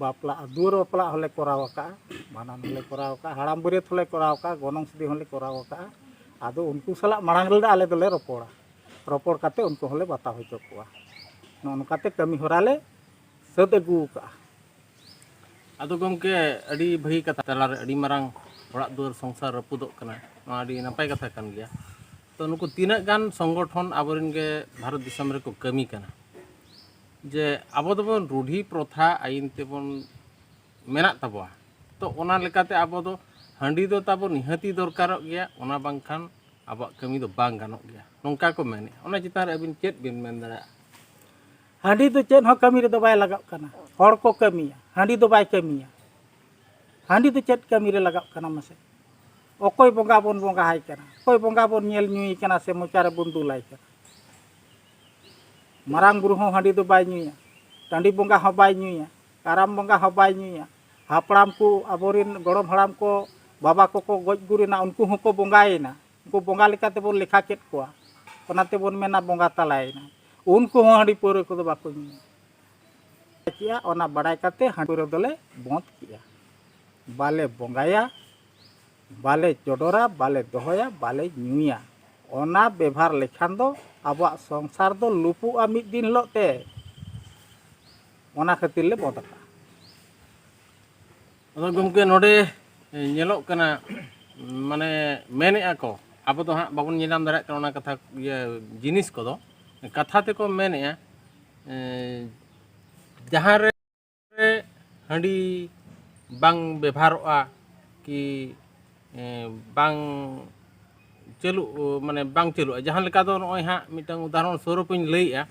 S3: ᱵᱟᱯᱞᱟᱜᱼᱟ ᱫᱩᱣᱟᱹᱨ ᱵᱟᱯᱞᱟ ᱦᱚᱸᱞᱮ ᱠᱚᱨᱟᱣ ᱟᱠᱟᱫᱼᱟ ᱵᱷᱟᱸᱰᱟᱱ ᱦᱚᱸᱞᱮ ᱠᱚᱨᱟᱣ ᱟᱠᱟᱫᱼᱟ ᱦᱟᱲᱟᱢ ᱵᱟᱹᱨᱭᱟᱹᱛ ᱦᱚᱸᱞᱮ ᱠᱚᱨᱟᱣ ᱟᱠᱟᱫᱼᱟ ᱜᱚᱱᱚᱝ ᱥᱤᱫᱤ ᱦᱚᱸᱞᱮ ᱠᱚᱨᱟᱣ ᱟᱠᱟᱫᱼᱟ ᱟᱫᱚ ᱩᱱᱠᱩ ᱥᱟᱞᱟᱜ ᱢᱟᱲᱟᱝ ᱨᱮᱫᱚ ᱟᱞᱮ ᱫᱚᱞᱮ ᱨᱚᱯᱚᱲᱟ ᱨᱚᱯᱚᱲ ᱠᱟᱛᱮᱫ ᱩᱱᱠᱩ ᱦᱚᱸᱞᱮ ᱵᱟᱛᱟᱣ ᱦᱚᱪᱚ ᱠᱚᱣᱟ ᱱᱚᱜᱼᱚ ᱱᱚᱝᱠᱟᱛᱮ ᱠᱟᱹᱢᱤ ᱦᱚᱨᱟ ᱞᱮ ᱥᱟᱹᱛ ᱟᱹᱜᱩ ᱟᱠᱟᱫᱼᱟ
S2: ᱟᱫᱚ ᱜᱚᱢᱠᱮ ᱟᱹᱰᱤ ᱵᱷᱟᱹᱜᱤ ᱠᱟᱛᱷᱟ ᱛᱟᱞᱟᱨᱮ ᱟᱹᱰᱤ ᱢᱟᱨᱟᱝ ᱚᱲᱟᱜ ᱫᱩᱣᱟᱹᱨ ᱥᱚᱝᱥᱟᱨ ᱨᱟᱹᱯᱩᱫᱚᱜ ᱠᱟᱱᱟ ᱱᱚᱣᱟ ᱟᱹᱰᱤ ᱱᱟᱯᱟᱭ ᱠᱟᱛᱷᱟ ᱠᱟᱱ ᱜᱮᱭᱟ ᱛᱚ ᱱᱩᱠᱩ ᱛᱤᱱᱟᱹᱜ ᱜᱟᱱ ᱥᱚᱝᱜᱚᱴᱷᱚᱱ ᱟᱵᱚᱨᱮᱱ ᱜᱮ ᱵᱷᱟᱨᱚᱛ ᱫᱤᱥᱚᱢ ᱨᱮᱠᱚ ᱠᱟᱹᱢᱤ ᱠᱟᱱᱟ ᱡᱮ ᱟᱵᱚ ᱫᱚᱵᱚᱱ ᱨᱩᱰᱷᱤ ᱯᱨᱚᱛᱷᱟ ᱟᱭᱤᱱ ᱛᱮᱵᱚᱱ ᱢᱮᱱᱟᱜ ᱛᱟᱵᱚᱣᱟ ᱛᱚ ᱚᱱᱟ ᱞᱮᱠᱟᱛᱮ ᱟᱵᱚ ᱫᱚ ᱦᱟᱺᱰᱤ ᱫᱚ ᱛᱟᱵᱚ ᱱᱤᱦᱟᱹᱛᱤ ᱫᱚᱨᱠᱟᱨᱚᱜ ᱜᱮᱭᱟ ᱚᱱᱟ ᱵᱟᱝᱠᱷᱟᱱ ᱟᱵᱚᱣᱟᱜ ᱠᱟᱹᱢᱤ ᱫᱚ ᱵᱟᱝ ᱜᱟᱱᱚᱜ ᱜᱮᱭᱟ ᱱᱚᱝᱠᱟ ᱠᱚ ᱢᱮᱱᱮᱜᱼᱟ ᱚᱱᱟ ᱪᱮᱛᱟᱱ ᱨᱮ ᱟᱹᱵᱤᱱ ᱪᱮᱫ ᱵᱤᱱ ᱢᱮᱱ ᱫᱟᱲᱮᱭᱟᱜᱼᱟ
S3: ᱦᱟᱺᱰᱤ ᱫᱚ ᱪᱮᱫ ᱦᱚᱸ ᱠᱟᱹᱢᱤ ᱨᱮᱫᱚ ᱵᱟᱭ ᱞᱟᱜᱟᱜ ᱠᱟᱱᱟ ᱦᱚᱲ ᱠᱚ ᱠᱟᱹᱢᱤᱭᱟ ᱦᱟᱺᱰᱤ ᱫᱚ ᱵᱟᱭ ᱠᱟᱹᱢᱤᱭᱟ ᱦᱟᱺᱰᱤ ᱫᱚ ᱪᱮᱫ ᱠᱟᱹᱢᱤ ᱨᱮ ᱞᱟᱜᱟᱜ ᱠᱟᱱᱟ ᱢᱟᱥᱮ ᱚᱠᱚᱭ ᱵᱚᱸᱜᱟ ᱵᱚᱱ ᱵᱚᱸᱜᱟ ᱟᱭ ᱠᱟᱱᱟ ᱚᱠᱚᱭ ᱵᱚᱸᱜᱟ ᱵᱚᱱ ᱧᱮᱞ ᱧᱩᱭᱮ ᱠᱟᱱᱟ ᱥᱮ ᱢᱚᱪᱟ ᱨᱮᱵᱚᱱ ᱫᱩᱞᱟᱭ ᱠᱟᱱᱟ ᱢᱟᱨᱟᱝ ᱵᱩᱨᱩ ᱦᱚᱸ ᱦᱟᱺᱰᱤ ᱫᱚ ᱵᱟᱭ ᱧᱩᱭᱟ ᱴᱟᱺᱰᱤ ᱵᱚᱸᱜᱟ ᱦᱚᱸ ᱵᱟᱭ ᱧᱩᱭᱟ ᱠᱟᱨᱟᱢ ᱵᱚᱸᱜᱟ ᱦᱚᱸ ᱵᱟᱭ ᱧᱩᱭᱟ ᱦᱟᱯᱲᱟᱢ ᱠᱚ ᱟᱵᱚᱨᱮᱱ ᱜᱚᱲᱚᱢ ᱦᱟᱲᱟᱢ ᱠᱚ ᱵᱟᱵᱟ ᱠᱚᱠᱚ ᱜᱚᱡ ᱜᱩᱨ ᱮᱱᱟ ᱩᱱᱠᱩ ᱦᱚᱸᱠᱚ ᱵᱚᱸᱜᱟᱭᱮᱱᱟ ᱩᱱᱠᱩ ᱵᱚᱸᱜᱟ ᱞᱮᱠᱟ ᱛᱮᱵᱚᱱ ᱞᱮᱠᱷᱟ ᱠᱮᱫ ᱠᱚᱣᱟ ᱚᱱᱟ ᱛᱮᱵᱚᱱ ᱢᱮᱱᱟ ᱵᱚᱸᱜᱟ ᱛᱟᱞᱟᱭᱮᱱᱟ ᱩᱱᱠᱩ ᱦᱚᱸ ᱦᱟᱺᱰᱤ ᱯᱟᱹᱣᱨᱟᱹ ᱠᱚᱫᱚ ᱵᱟᱠᱚ ᱧᱩᱭᱟ ᱠᱮᱜᱼᱟ ᱚᱱᱟ ᱵᱟᱲᱟᱭ ᱠᱟᱛᱮ ᱦᱟᱺᱰᱤ ᱯᱟᱹᱣᱨᱟᱹ ᱫᱚᱞᱮ ᱵᱚᱸᱫᱽ ᱠᱮᱜᱼᱟ ᱵᱟᱞᱮ ᱵᱚᱸᱜᱟᱭᱟ ᱵᱟᱞᱮ ᱪᱚᱰᱚᱨᱟ ᱵᱟᱞᱮ ᱫᱚᱦᱚᱭᱟ ᱵᱟᱞᱮ ᱧᱩᱭᱟ ᱚᱱᱟ ᱵᱮᱵᱷᱟᱨ ᱞᱮᱠᱷᱟᱱ ᱫᱚ ᱟᱵᱚᱣᱟᱜ ᱥᱚᱝᱥᱟᱨ ᱫᱚ ᱞᱩᱯᱩᱜᱼᱟ ᱢᱤᱫ ᱫᱤᱱ ᱦᱤᱞᱳᱜ ᱛᱮ ᱚᱱᱟ ᱠᱷᱟᱹᱛᱤᱨ ᱞᱮ ᱵᱚᱸᱫᱽ ᱟᱠᱟᱫᱼᱟ
S2: ᱟᱫᱚ ᱜᱚᱢᱠᱮ ᱱᱚᱰᱮ ᱧᱮᱞᱚᱜ ᱠᱟᱱᱟ ᱢᱟᱱᱮ ᱢᱮᱱᱮᱫᱼᱟ ᱠᱚ ᱟᱵᱚ ᱫᱚ ᱦᱟᱸᱜ ᱵᱟᱵᱚᱱ ᱧᱮᱞᱧᱟᱢ ᱫᱟᱲᱮᱭᱟᱜ ᱠᱟᱱᱟ ᱚᱱᱟ ᱠᱟᱛᱷᱟ ᱤᱭᱟᱹ ᱡᱤᱱᱤᱥ ᱠᱚᱫᱚ ᱠᱟᱛᱷᱟ ᱛᱮᱠᱚ ᱢᱮᱱᱮᱫᱼᱟ ᱡᱟᱦᱟᱸ ᱨᱮ ᱦᱟᱺᱰᱤ ᱵᱟᱝ ᱵᱮᱵᱷᱟᱨᱚᱜᱼᱟ ᱠᱤ ᱵᱟᱝ ᱪᱟᱹᱞᱩᱜ ᱢᱟᱱᱮ ᱵᱟᱝ ᱪᱟᱹᱞᱩᱜᱼᱟ ᱡᱟᱦᱟᱸ ᱞᱮᱠᱟ ᱫᱚ ᱱᱚᱜᱼᱚᱭ ᱦᱟᱸᱜ ᱢᱤᱫᱴᱟᱝ ᱩᱫᱟᱦᱚᱨᱚᱱ ᱥᱚᱨᱩᱯ ᱤᱧ ᱞᱟᱹᱭᱮᱜᱼᱟ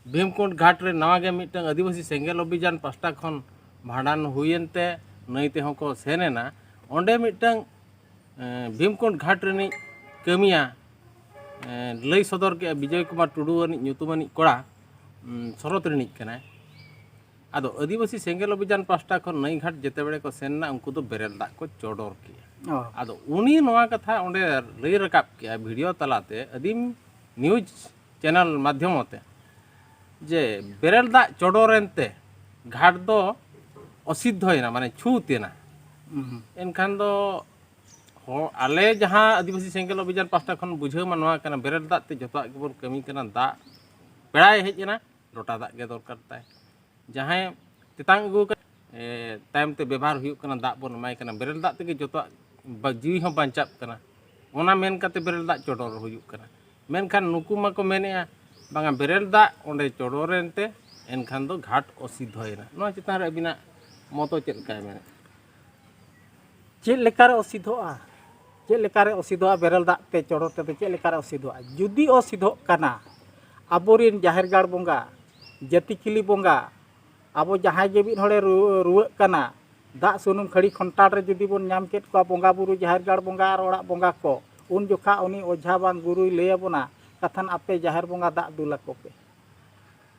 S2: ᱵᱷᱤᱢᱠᱩᱸᱰ ᱜᱷᱟᱴ ᱨᱮ ᱱᱟᱣᱟ ᱜᱮ ᱢᱤᱫᱴᱟᱝ ᱟᱹᱫᱤᱵᱟᱹᱥᱤ ᱥᱮᱸᱜᱮᱞ ᱚᱵᱷᱤᱡᱟᱱ ᱯᱟᱥᱴᱟ ᱠᱷᱚᱱ ᱵᱷᱟᱸᱰᱟᱱ ᱦᱩᱭᱮᱱ ᱛᱮ ᱱᱟᱹᱭ ᱛᱮᱦᱚᱸ ᱠᱚ ᱥᱮᱱ ᱮᱱᱟ ᱚᱸᱰᱮ ᱢᱤᱫᱴᱟᱝ ᱵᱷᱤᱢᱠᱩᱸᱰ ᱜᱷᱟᱴ ᱨᱤᱱᱤᱡ ᱠᱟᱹᱢᱤᱭᱟ ᱞᱟᱹᱭ ᱥᱚᱫᱚᱨ ᱠᱮᱜᱼᱟ ᱵᱤᱡᱚᱭ ᱠᱩᱢᱟᱨ ᱴᱩᱰᱩ ᱟᱹᱱᱤᱡ ᱧᱩᱛᱩᱢᱟᱱᱤᱡ ᱠᱚᱲᱟ ᱥᱚᱨᱚᱛ ᱨᱤᱱᱤᱡ ᱠᱟᱱᱟᱭ ᱟᱫᱚ ᱟᱹᱫᱤᱵᱟᱹᱥᱤ ᱥᱮᱸᱜᱮᱞ ᱚᱵᱷᱤᱡᱟᱱ ᱯᱟᱥᱴᱟ ᱠᱷᱚᱱ ᱱᱟᱹᱭ ᱜᱷᱟᱴ ᱡᱮᱛᱮ ᱵᱮᱲᱮ ᱠᱚ ᱥᱮᱱ ᱮᱱᱟ ᱩᱱᱠᱩ ᱫᱚ ᱵᱮᱨᱮᱞ ᱫᱟᱜ ᱠᱚ ᱪᱚᱰᱚᱨ ᱠᱮᱜᱼᱟ ᱟᱫᱚ ᱩᱱᱤ ᱱᱚᱣᱟ ᱠᱟᱛᱷᱟ ᱚᱸᱰᱮ ᱞᱟᱹᱭ ᱨᱟᱠᱟᱵ ᱠᱮᱜᱼᱟ ᱵᱷᱤᱰᱤᱭᱳ ᱛᱟᱞᱟᱛᱮ ᱟᱹᱫᱤᱢ ᱱᱤᱭᱩᱡᱽ ᱪᱮᱱᱮᱞ ᱢᱟᱫᱽᱫᱷᱚᱢ ᱛᱮ ᱡᱮ ᱵᱮᱨᱮᱞ ᱫᱟᱜ ᱪᱚᱰᱚᱨᱮᱱ ᱛᱮ ᱜᱷᱟᱴ ᱫᱚ ᱚᱥᱤᱫᱽᱫᱷᱚᱭᱮᱱᱟ ᱢᱟᱱᱮ ᱪᱷᱩᱛ ᱮᱱᱟ ᱮᱱᱠᱷᱟᱱ ᱫᱚ ᱟᱞᱮ ᱡᱟᱦᱟᱸ ᱟᱹᱫᱤᱵᱟᱹᱥᱤ ᱥᱮᱸᱜᱮᱞ ᱚᱵᱷᱤᱡᱟᱱ ᱯᱟᱥᱴᱟ ᱠᱷᱚᱱ ᱵᱩᱡᱷᱟᱹᱣ ᱢᱟ ᱱᱚᱣᱟ ᱠᱟᱱᱟ ᱵᱮᱨᱮᱞ ᱫᱟᱜ ᱛᱮ ᱡᱚᱛᱚᱣᱟᱜ ᱜᱮᱵᱚᱱ ᱠᱟᱹᱢᱤ ᱠᱟᱱᱟ ᱫᱟᱜ ᱯᱮᱲᱟᱭ ᱦᱮᱡ ᱮᱱᱟ ᱞᱚᱴᱟ ᱫᱟᱜ ᱜᱮ ᱫᱚᱨᱠᱟᱨ ᱛᱟᱭ ᱡᱟᱦᱟᱸᱭ ᱛᱮᱛᱟᱝ ᱟᱹᱜᱩ ᱟᱠᱟᱱ ᱛᱟᱭᱚᱢ ᱛᱮ ᱵᱮᱵᱷᱟᱨ ᱦᱩᱭᱩᱜ ᱠᱟᱱᱟ ᱫᱟᱜ ᱵᱚᱱ ᱮᱢᱟᱭ ᱠᱟᱱᱟ ᱵᱮᱨᱮᱞ ᱫᱟᱜ ᱛᱮᱜᱮ ᱡᱚᱛᱚᱣᱟᱜ ᱡᱤᱣᱤ ᱦᱚᱸ ᱵᱟᱧᱪᱟᱜ ᱠᱟᱱᱟ ᱚᱱᱟ ᱢᱮᱱ ᱠᱟᱛᱮ ᱵᱮᱨᱮᱞ ᱫᱟᱜ ᱪᱚᱰᱚᱨ ᱦᱩᱭᱩᱜ ᱠᱟᱱᱟ ᱢᱮᱱᱠᱷᱟᱱ ᱱᱩᱠᱩ ᱢᱟᱠᱚ ᱢᱮᱱᱮᱜᱼᱟ ᱵᱟᱝᱟ ᱵᱮᱨᱮᱞ ᱫᱟᱜ ᱚᱸᱰᱮ ᱪᱚᱰᱚᱨᱮᱱ ᱛᱮ ᱮᱱᱠᱷᱟᱱ ᱫᱚ ᱜᱷᱟᱴ ᱚᱥᱤᱫᱷᱚᱭᱮᱱᱟ ᱱᱚᱣᱟ ᱪᱮᱛᱟᱱ ᱨᱮ ᱟᱹᱵᱤᱱᱟᱜ ᱢᱚᱛᱚ ᱪᱮᱫ ᱞᱮᱠᱟᱭ ᱢᱮᱱᱮᱫ
S3: ᱪᱮᱫ ᱞᱮᱠᱟᱨᱮ ᱚᱥᱤᱫᱷᱚᱜᱼᱟ ᱪᱮᱫ ᱞᱮᱠᱟᱨᱮ ᱚᱥᱤᱫᱷᱚᱜᱼᱟ ᱵᱮᱨᱮᱞ ᱫᱟᱜ ᱛᱮ ᱪᱚᱰᱚᱨ ᱛᱮᱫᱚ ᱪᱮᱫ ᱞᱮᱠᱟᱨᱮ ᱚᱥᱤᱫᱷᱚᱜᱼᱟ ᱡᱩᱫᱤ ᱚᱥᱤᱫᱷᱚᱜ ᱠᱟᱱᱟ ᱟᱵᱚᱨᱮᱱ ᱡᱟᱦᱮᱨ ᱜᱟᱲ ᱵᱚᱸᱜᱟ ᱡᱟᱹᱛᱤ ᱠᱤᱞᱤ ᱵᱚᱸᱜᱟ ᱟᱵᱚ ᱡᱟᱦᱟᱸᱭ ᱜᱮ ᱢᱤᱫ ᱦᱚᱲᱮ ᱨᱩᱣᱟᱹᱜ ᱠᱟᱱᱟ ᱫᱟᱜ ᱥᱩᱱᱩᱢ ᱠᱷᱟᱹᱲᱤ ᱠᱷᱚᱱᱴᱟᱲ ᱨᱮ ᱡᱩᱫᱤ ᱵᱚᱱ ᱧᱟᱢ ᱠᱮᱫ ᱠᱚᱣᱟ ᱵᱚᱸᱜᱟ ᱵᱩᱨᱩ ᱡᱟᱦᱮᱨ ᱜᱟᱲ ᱵᱚᱸᱜᱟ ᱟᱨ ᱚᱲᱟᱜ ᱵᱚᱸᱜᱟ ᱠᱚ ᱩᱱ ᱡᱚᱠᱷᱟ ᱩᱱᱤ ᱚᱡᱷᱟ ᱵᱟᱝ ᱜᱩᱨᱩᱭ ᱞᱟᱹᱭ ᱟᱵᱚᱱᱟ ᱠᱟᱛᱷᱟᱱ ᱟᱯᱮ ᱡᱟᱦᱮᱨ ᱵᱚᱸᱜᱟ ᱫᱟᱜ ᱫᱩᱞ ᱟᱠᱚ ᱯᱮ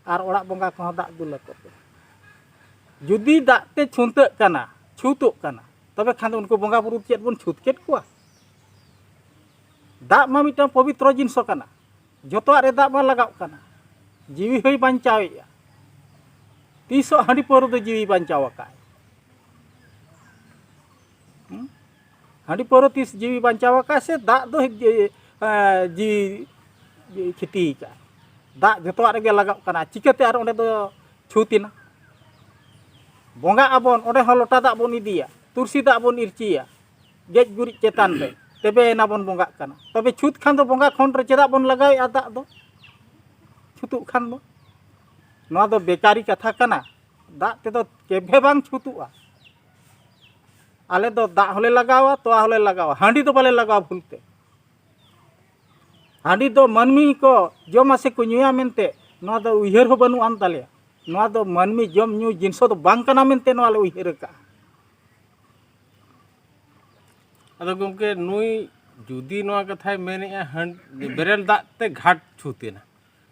S3: ᱟᱨ ᱚᱲᱟᱜ ᱵᱚᱸᱜᱟ ᱠᱚᱦᱚᱸ ᱫᱟᱜ ᱫᱩᱞ ᱟᱠᱚ ᱯᱮ ᱡᱩᱫᱤ ᱫᱟᱜ ᱛᱮ ᱪᱷᱩᱱᱛᱟᱹᱜ ᱠᱟᱱᱟ ᱪᱷᱩᱛᱚᱜ ᱠᱟᱱᱟ ᱛᱚᱵᱮ ᱠᱷᱟᱱ ᱫᱚ ᱩᱱᱠᱩ ᱵᱚᱸᱜᱟ ᱵᱩᱨᱩ ᱪᱮᱫ ᱵᱚᱱ ᱪᱷᱩᱛ ᱠᱮᱫ ᱠᱚᱣᱟ ᱫᱟᱜ ᱢᱟ ᱢᱤᱫᱴᱟᱝ ᱯᱚᱵᱤᱛᱨᱚ ᱡᱤᱱᱤᱥ ᱠᱟᱱᱟ ᱡᱚᱛᱚᱣᱟᱜ ᱨᱮ ᱫᱟᱜ ᱢᱟ ᱞᱟᱜᱟᱜ ᱠᱟᱱᱟ ᱡᱤᱣᱤ ᱦᱚᱸᱭ ᱵᱟᱧᱪᱟᱣᱮᱜᱼᱟ ᱛᱤᱥᱚᱜ ᱦᱟᱺᱰᱤ ᱯᱟᱹᱣᱨᱟᱹ ᱫᱚ ᱡᱤᱣᱤ ᱵᱟᱧᱪᱟᱣ ᱟᱠᱟᱫ ᱦᱟᱺᱰᱤ ᱯᱟᱹᱣᱨᱟᱹ ᱛᱤᱥ ᱡᱤᱣᱤ ᱵᱟᱧᱪᱟᱣ ᱟᱠᱟᱫᱼᱟ ᱥᱮ ᱫᱟᱜ ᱫᱚ ᱡᱤᱣᱤ ᱠᱷᱚᱛᱤ ᱟᱠᱟᱫᱼᱟ ᱫᱟᱜ ᱡᱚᱛᱚᱣᱟᱜ ᱨᱮᱜᱮ ᱞᱟᱜᱟᱜ ᱠᱟᱱᱟ ᱪᱤᱠᱟᱹᱛᱮ ᱟᱨ ᱚᱸᱰᱮ ᱫᱚ ᱪᱷᱩᱛ ᱮᱱᱟ ᱵᱚᱸᱜᱟᱜ ᱟᱵᱚᱱ ᱚᱸᱰᱮ ᱦᱚᱸ ᱞᱚᱴᱟ ᱫᱟᱜ ᱵᱚᱱ ᱤᱫᱤᱭᱟ ᱛᱩᱨᱥᱤ ᱫᱟᱜ ᱵᱚᱱ ᱤᱨᱪᱤᱭᱟ ᱜᱮᱡ ᱜᱩᱨᱤᱡ ᱪᱮᱛᱟᱱ ᱨᱮ ᱛᱚᱵᱮ ᱮᱱᱟ ᱵᱚᱱ ᱵᱚᱸᱜᱟᱜ ᱠᱟᱱᱟ ᱛᱚᱵᱮ ᱪᱷᱩᱛ ᱠᱷᱟᱱ ᱫᱚ ᱵᱚᱸᱜᱟ ᱠᱷᱚᱱ ᱨᱮ ᱪᱮᱫᱟᱜ ᱵᱚᱱ ᱞᱟᱜᱟᱣᱮᱫᱼᱟ ᱫᱟᱜ ᱫᱚ ᱪᱷᱩᱛᱩᱜ ᱠᱷᱟᱱ ᱫᱚ ᱱᱚᱣᱟ ᱫᱚ ᱵᱮᱠᱟᱨᱤ ᱠᱟᱛᱷᱟ ᱠᱟᱱᱟ ᱫᱟᱜ ᱛᱮᱫᱚ ᱠᱮᱵᱷᱮ ᱵᱟᱝ ᱪᱷᱩᱛᱩᱜᱼᱟ ᱟᱞᱮ ᱫᱚ ᱫᱟᱜ ᱦᱚᱸᱞᱮ ᱞᱟᱜᱟᱣᱟ ᱛᱚᱣᱟ ᱦᱚᱸᱞᱮ ᱞᱟᱜᱟᱣᱟ ᱦᱟᱺᱰᱤ ᱫᱚ ᱵᱟᱞᱮ ᱞᱟᱜᱟᱣᱟ ᱵᱷᱩᱞᱛᱮ ᱦᱟᱺᱰᱤ ᱫᱚ ᱢᱟᱹᱱᱢᱤ ᱠᱚ ᱡᱚᱢᱟ ᱥᱮ ᱠᱚ ᱧᱩᱭᱟ ᱢᱮᱱᱛᱮ ᱱᱚᱣᱟ ᱫᱚ ᱩᱭᱦᱟᱹᱨ ᱦᱚᱸ ᱵᱟᱹᱱᱩᱜ ᱟᱱ ᱛᱟᱞᱮᱭᱟ ᱱᱚᱣᱟ ᱫᱚ ᱢᱟᱹᱱᱢᱤ ᱡᱚᱢ ᱧᱩ ᱡᱤᱱᱤᱥ ᱫᱚ ᱵᱟᱝ ᱠᱟᱱᱟ ᱢᱮᱱᱛᱮ ᱱᱚᱣᱟ ᱞᱮ ᱩᱭᱦᱟᱹᱨ ᱟᱠᱟᱫᱼᱟ
S2: ᱟᱫᱚ ᱜᱚᱢᱠᱮ ᱱᱩᱭ ᱡᱩᱫᱤ ᱱᱚᱣᱟ ᱠᱟᱛᱷᱟᱭ ᱢᱮᱱᱮᱜᱼᱟ ᱦᱟᱺᱰᱤ ᱵᱮᱨᱮᱞ ᱫᱟᱜ ᱛᱮ ᱜᱷᱟᱴ ᱪᱷᱩᱛ ᱮᱱᱟ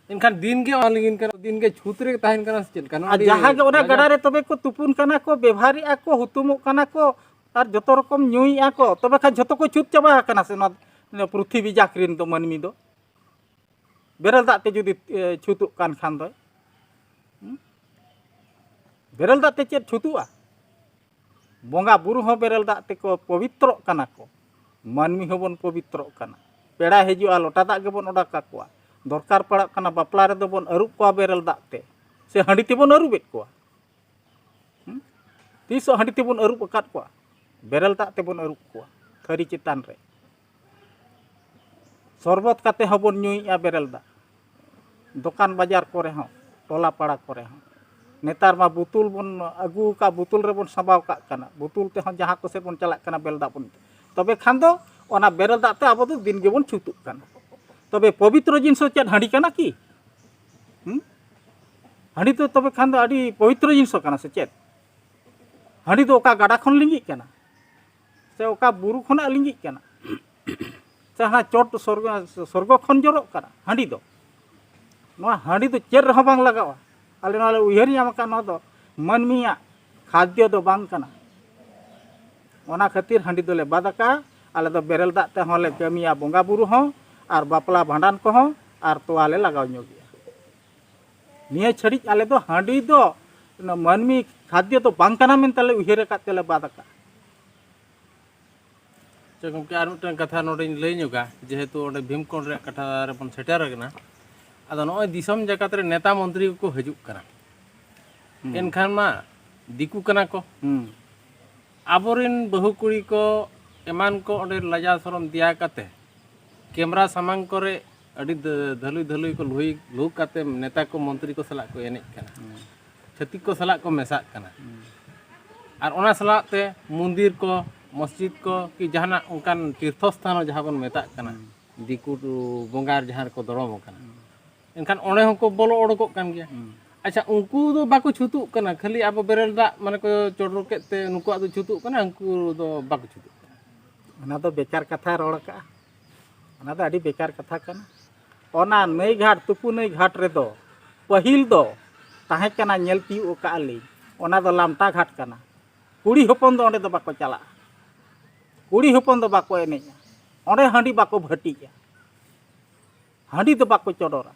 S2: ᱮᱱᱠᱷᱟᱱ ᱫᱤᱱ ᱜᱮ ᱚᱱᱟ ᱞᱤᱸᱜᱤᱱ ᱠᱟᱱᱟ ᱫᱤᱱ ᱜᱮ ᱪᱷᱩᱛ ᱨᱮ ᱛᱟᱦᱮᱱ ᱠᱟᱱᱟ ᱥᱮ ᱪᱮᱫ ᱞᱮᱠᱟ ᱱᱚᱣᱟ ᱟᱨ ᱟᱹᱰᱤ ᱡᱟᱦᱟᱸ ᱜᱮ ᱚᱱᱟ ᱞᱟᱡᱟᱣ- ᱜᱟᱰᱟ ᱨᱮ
S3: ᱛᱚᱵᱮ ᱠᱚ ᱛᱩᱯᱩᱱ ᱠᱟᱱᱟ ᱠᱚ ᱵᱮᱵᱷᱟᱨᱮᱜᱼᱟ ᱠᱚ ᱦᱩᱛᱩᱢᱚᱜ ᱠᱟᱱᱟ ᱠᱚ ᱟᱨ ᱡᱚᱛᱚ ᱨᱚᱠᱚᱢ ᱧᱩᱭᱮᱜᱼᱟ ᱠᱚ ᱛᱚᱵᱮ ᱠᱷᱟᱱ ᱡᱷᱚᱛᱚ ᱠᱚ ᱪᱷᱩᱛ ᱪᱟᱵᱟ ᱟᱠᱟᱱᱟ ᱥᱮ ᱱᱚᱣᱟ ᱱᱚᱣᱟ ᱯᱨᱤᱛᱷᱤᱵᱤ ᱡᱟᱠ ᱨᱮᱱ ᱫᱚ ᱢᱟᱹᱱᱢᱤ ᱫᱚ ᱵᱮᱨᱮᱞ ᱫᱟᱜ ᱛᱮ ᱡᱩᱫᱤ ᱮ, ᱪᱷᱩᱛᱩᱜ ᱠᱟᱱ ᱠᱷᱟᱱ ᱫᱚ ᱵᱮᱨᱮᱞ ᱫᱟᱜ ᱛᱮ ᱪᱮᱫ ᱪᱷᱩᱛᱩᱜᱼᱟ ᱵᱚᱸᱜᱟ ᱵᱩᱨᱩ ᱦᱚᱸ ᱵᱮᱨᱮᱞ ᱫᱟᱜ ᱛᱮᱠᱚ ᱯᱚᱵᱤᱛᱨᱚᱜ ᱠᱟᱱᱟ ᱠᱚ ᱢᱟᱹᱱᱢᱤ ᱦᱚᱸᱵᱚᱱ ᱯᱚᱵᱤᱛᱨᱚᱜ ᱠᱟᱱᱟ ᱯᱮᱲᱟᱭ ᱦᱤᱡᱩᱜᱼᱟ ᱞᱚᱴᱟ ᱫᱟᱜ ᱜᱮᱵᱚᱱ ᱚᱰᱟᱠ ᱟᱠᱚᱣᱟ ᱫᱚᱨᱠᱟᱨ ᱯᱟᱲᱟᱜ ᱠᱟᱱᱟ ᱵᱟᱯᱞᱟ ᱨᱮᱫᱚ ᱵᱚᱱ ᱟᱹᱨᱩᱵ ᱠᱚᱣᱟ ᱵᱮᱨᱮᱞ ᱫᱟᱜ ᱛᱮ ᱥᱮ ᱦᱟᱺᱰᱤ ᱛᱮᱵᱚᱱ ᱟᱹᱨᱩᱵᱮᱫ ᱠᱚᱣᱟ ᱛᱤᱥᱚᱜ ᱦᱟᱺᱰᱤ ᱛᱮᱵᱚᱱ ᱟᱹᱨᱩᱵ ᱟᱠᱟᱫ ᱠᱚᱣᱟ ᱵᱮᱨᱮᱞ ᱫᱟᱜ ᱛᱮᱵᱚᱱ ᱟᱹᱨᱩᱵ ᱠᱚᱣᱟ ᱛᱷᱟᱹᱨᱤ ᱪᱮᱛᱟᱱ ᱨᱮ ᱥᱚᱨᱵᱚᱛ ᱠᱟᱛᱮ ᱦᱚᱸᱵᱚᱱ ᱧᱩᱭᱮᱫᱼᱟ ᱵᱮᱨᱮᱞ ᱫᱟᱜ ᱫᱚᱠᱟᱱ ᱵᱟᱡᱟᱨ ᱠᱚᱨᱮ ᱦᱚᱸ ᱴᱚᱞᱟ ᱯᱟᱲᱟ ᱠᱚᱨᱮ ᱦᱚᱸ ᱱᱮᱛᱟᱨ ᱢᱟ ᱵᱩᱛᱩᱞ ᱵᱚᱱ ᱟᱹᱜᱩ ᱟᱠᱟᱫ ᱵᱩᱛᱩᱞ ᱨᱮᱵᱚᱱ ᱥᱟᱸᱵᱟᱣ ᱠᱟᱜ ᱠᱟᱱᱟ ᱵᱩᱛᱩᱞ ᱛᱮᱦᱚᱸ ᱡᱟᱦᱟᱸ ᱠᱚᱥᱮᱫ ᱵᱚᱱ ᱪᱟᱞᱟᱜ ᱠᱟᱱᱟ ᱵᱮᱨᱮᱞ ᱫᱟᱜ ᱵᱚᱱ ᱛᱚᱵᱮ ᱠᱷᱟᱱ ᱫᱚ ᱚᱱᱟ ᱵᱮᱨᱮᱞ ᱫᱟᱜ ᱛᱮ ᱟᱵᱚ ᱫᱚ ᱫᱤᱱ ᱜᱮᱵᱚᱱ ᱪᱷᱩᱛᱩᱜ ᱠᱟᱱᱟ ᱛᱚᱵᱮ ᱯᱚᱵᱤᱛᱨᱚ ᱡᱤᱱᱤᱥ ᱫᱚ ᱪᱮᱫ ᱦᱟᱺᱰᱤ ᱠᱟᱱᱟ ᱠᱤ ᱦᱟᱺᱰᱤ ᱫᱚ ᱛᱚᱵᱮ ᱠᱷᱟᱱ ᱫᱚ ᱟᱹᱰᱤ ᱯᱚᱵᱤᱛᱨᱚ ᱡᱤᱱᱤᱥ ᱠᱟᱱᱟ ᱥᱮ ᱪᱮᱫ ᱦᱟᱺᱰᱤ ᱫᱚ ᱚᱠᱟ ᱜᱟᱰᱟ ᱠᱷᱚᱱ ᱞᱤᱸᱜᱤᱜ ᱠᱟᱱᱟ ᱥᱮ ᱚᱠᱟ ᱵᱩᱨᱩ ᱠᱷᱚᱱᱟᱜ ᱞᱤᱸᱜᱤᱜ ᱠᱟᱱᱟ ᱥᱮ ᱦᱟᱱᱟ ᱪᱚᱴ ᱥᱚᱨᱜᱚ ᱥᱚᱨᱜᱚ ᱠᱷᱚᱱ ᱡᱚᱨᱚᱜ ᱠᱟᱱᱟ ᱦᱟᱺᱰᱤ ᱫᱚ ᱱᱚᱣᱟ ᱦᱟᱺᱰᱤ ᱫᱚ ᱪᱮᱫ ᱨᱮᱦᱚᱸ ᱵᱟᱝ ᱞᱟᱜᱟᱜᱼᱟ ᱟᱞᱮ ᱱᱚᱣᱟ ᱞᱮ ᱩᱭᱦᱟᱹᱨ ᱧᱟᱢ ᱟᱠᱟᱫ ᱱᱚᱣᱟ ᱫᱚ ᱢᱟᱹᱱᱢᱤᱭᱟᱜ ᱠᱷᱟᱫᱽᱭᱚ ᱫᱚ ᱵᱟᱝ ᱠᱟᱱᱟ ᱚᱱᱟ ᱠᱷᱟᱹᱛᱤᱨ ᱦᱟᱺᱰᱤ ᱫᱚᱞᱮ ᱵᱟᱫ ᱟᱠᱟᱜᱼᱟ ᱟᱞᱮ ᱫᱚ ᱵᱮᱨᱮᱞ ᱫᱟᱜ ᱛᱮᱦᱚᱸ ᱞᱮ ᱠᱟᱹᱢᱤᱭᱟ ᱵᱚᱸᱜᱟ ᱵᱩᱨᱩ ᱦᱚᱸ ᱟᱨ ᱵᱟᱯᱞᱟ ᱵᱷᱟᱸᱰᱟᱱ ᱠᱚᱦᱚᱸ ᱟᱨ ᱛᱚᱣᱟ ᱞᱮ ᱞᱟᱜᱟᱣ ᱧᱚᱜᱮᱜᱼᱟ ᱱᱤᱭᱟᱹ ᱪᱷᱟᱹᱲᱤᱡ ᱟᱞᱮ ᱫᱚ ᱦᱟᱺᱰᱤ ᱫᱚ ᱢᱟᱹᱱᱢᱤ ᱠᱷᱟᱫᱽᱭᱚ ᱫᱚ ᱵᱟᱝ ᱠᱟᱱᱟ ᱢᱮᱱᱛᱮ ᱞᱮ ᱩᱭᱦᱟᱹᱨ ᱟᱠᱟᱫ ᱛᱮᱞᱮ ᱵᱟᱫ ᱟᱠᱟᱫᱼᱟ
S2: ᱪᱮ ᱜᱚᱢᱠᱮ ᱟᱨ ᱢᱤᱫᱴᱟᱝ ᱠᱟᱛᱷᱟ ᱱᱚᱰᱮᱧ ᱞᱟᱹᱭ ᱧᱚᱜᱟ ᱡᱮᱦᱮᱛᱩ ᱚᱸᱰᱮ ᱵᱷᱤᱢᱠᱚᱱ ᱨᱮᱭᱟᱜ ᱠᱟᱛᱷᱟ ᱨᱮᱵᱚᱱ ᱥᱮᱴᱮᱨ ᱟᱠᱟᱱᱟ ᱟᱫᱚ ᱱᱚᱜᱼᱚᱭ ᱫᱤᱥᱚᱢ ᱡᱟᱠᱟᱛ ᱨᱮ ᱱᱮᱛᱟ ᱢᱚᱱᱛᱨᱤ ᱠᱚᱠᱚ ᱦᱤᱡᱩᱜ ᱠᱟᱱᱟ ᱮᱱᱠᱷᱟᱱ ᱢᱟ ᱫᱤᱠᱩ ᱠᱟᱱᱟ ᱠᱚ ᱟᱵᱚᱨᱮᱱ ᱵᱟᱹᱦᱩ ᱠᱩᱲᱤ ᱠᱚ ᱮᱢᱟᱱ ᱠᱚ ᱚᱸᱰᱮ ᱞᱟᱡᱟ ᱥᱚᱨᱚᱢ ᱫᱮᱭᱟ ᱠᱟᱛᱮ ᱠᱮᱢᱨᱟ ᱥᱟᱢᱟᱝ ᱠᱚᱨᱮ ᱟᱹᱰᱤ ᱫᱷᱟᱹᱞᱩᱭ ᱫᱷᱟᱹᱞᱩᱭ ᱠᱚ ᱞᱩᱦᱩᱭ ᱞᱩᱦᱩ ᱠᱟᱛᱮ ᱱᱮᱛᱟ ᱠᱚ ᱢᱚᱱᱛᱨᱤ ᱠᱚ ᱥᱟᱞᱟᱜ ᱠᱚ ᱮᱱᱮᱡ ᱠᱟᱱᱟ ᱪᱷᱟᱹᱛᱤᱠ ᱠᱚ ᱥᱟᱞᱟᱜ ᱠᱚ ᱢᱮᱥᱟᱜ ᱠᱟᱱᱟ ᱟᱨ ᱚᱱᱟ ᱥᱟᱞᱟᱜ ᱛᱮ ᱢᱚᱱᱫᱤᱨ ᱠᱚ ᱢᱚᱥᱡᱤᱫ ᱠᱚ ᱠᱤ ᱡᱟᱦᱟᱱᱟᱜ ᱚᱱᱠᱟᱱ ᱛᱤᱨᱛᱷᱚ ᱥᱛᱷᱟᱱ ᱡᱟᱦᱟᱸ ᱵᱚᱱ ᱢᱮᱛᱟᱜ ᱠᱟᱱᱟ ᱫᱤᱠᱩ ᱵᱚᱸᱜᱟ ᱡᱟᱦᱟᱸ ᱨᱮᱠᱚ ᱫᱚᱲᱚᱢ ᱟᱠᱟᱱᱟ ᱮᱱᱠᱷᱟᱱ ᱚᱸᱰᱮ ᱦᱚᱸᱠᱚ ᱵᱚᱞᱚ ᱚᱰᱚᱠᱚᱜ ᱠᱟᱱ ᱜᱮᱭᱟ ᱟᱪᱪᱷᱟ ᱩᱱᱠᱩ ᱫᱚ ᱵᱟᱠᱚ ᱪᱷᱩᱛᱩᱜ ᱠᱟᱱᱟ ᱠᱷᱟᱹᱞᱤ ᱟᱵᱚ ᱵᱮᱨᱮᱞ ᱫᱟᱜ ᱢᱟᱱᱮ ᱠᱚ ᱪᱚᱰᱚᱨ ᱠᱮᱫ ᱛᱮ ᱱᱩᱠᱩᱣᱟᱜ ᱫᱚ ᱪᱷᱩᱛᱩᱜ ᱠᱟᱱᱟ ᱩᱱᱠᱩ ᱫᱚ ᱵᱟᱠᱚ ᱪᱷᱩᱛᱩᱜ ᱠᱟᱱᱟ ᱚᱱᱟ ᱫᱚ
S3: ᱵᱮᱠᱟᱨ ᱠᱟᱛᱷᱟ ᱨᱚᱲ ᱠᱟᱜᱼᱟ ᱚᱱᱟ ᱫᱚ ᱟᱹᱰᱤ ᱵᱮᱠᱟᱨ ᱠᱟᱛᱷᱟ ᱠᱟᱱᱟ ᱚᱱᱟ ᱱᱟᱹᱭ ᱜᱷᱟᱴ ᱛᱩᱯᱩ ᱱᱟᱹᱭ ᱜᱷᱟᱴ ᱨᱮᱫᱚ ᱯᱟᱹᱦᱤᱞ ᱫᱚ ᱛᱟᱦᱮᱸ ᱠᱟᱱᱟ ᱧᱮᱞ ᱛᱤᱭᱳᱜ ᱟᱠᱟᱫᱼᱟ ᱞᱤᱧ ᱚᱱᱟ ᱫᱚ ᱞᱟᱢᱴᱟ ᱜᱷᱟᱴ ᱠᱟᱱᱟ ᱠᱩᱲᱤ ᱦᱚᱯᱚᱱ ᱫᱚ ᱚᱸᱰᱮ ᱫᱚ ᱵᱟᱠᱚ ᱪᱟᱞᱟᱜᱼᱟ ᱠᱩᱲᱤ ᱦᱚᱯᱚᱱ ᱫᱚ ᱵᱟᱠᱚ ᱮᱱᱮᱡᱼᱟ ᱚᱸᱰᱮ ᱦᱟᱺᱰᱤ ᱵᱟᱠᱚ ᱵᱷᱟᱹᱴᱤᱜᱼᱟ ᱦᱟᱺᱰᱤ ᱫᱚ ᱵᱟᱠᱚ ᱪᱚᱰᱚᱨᱟ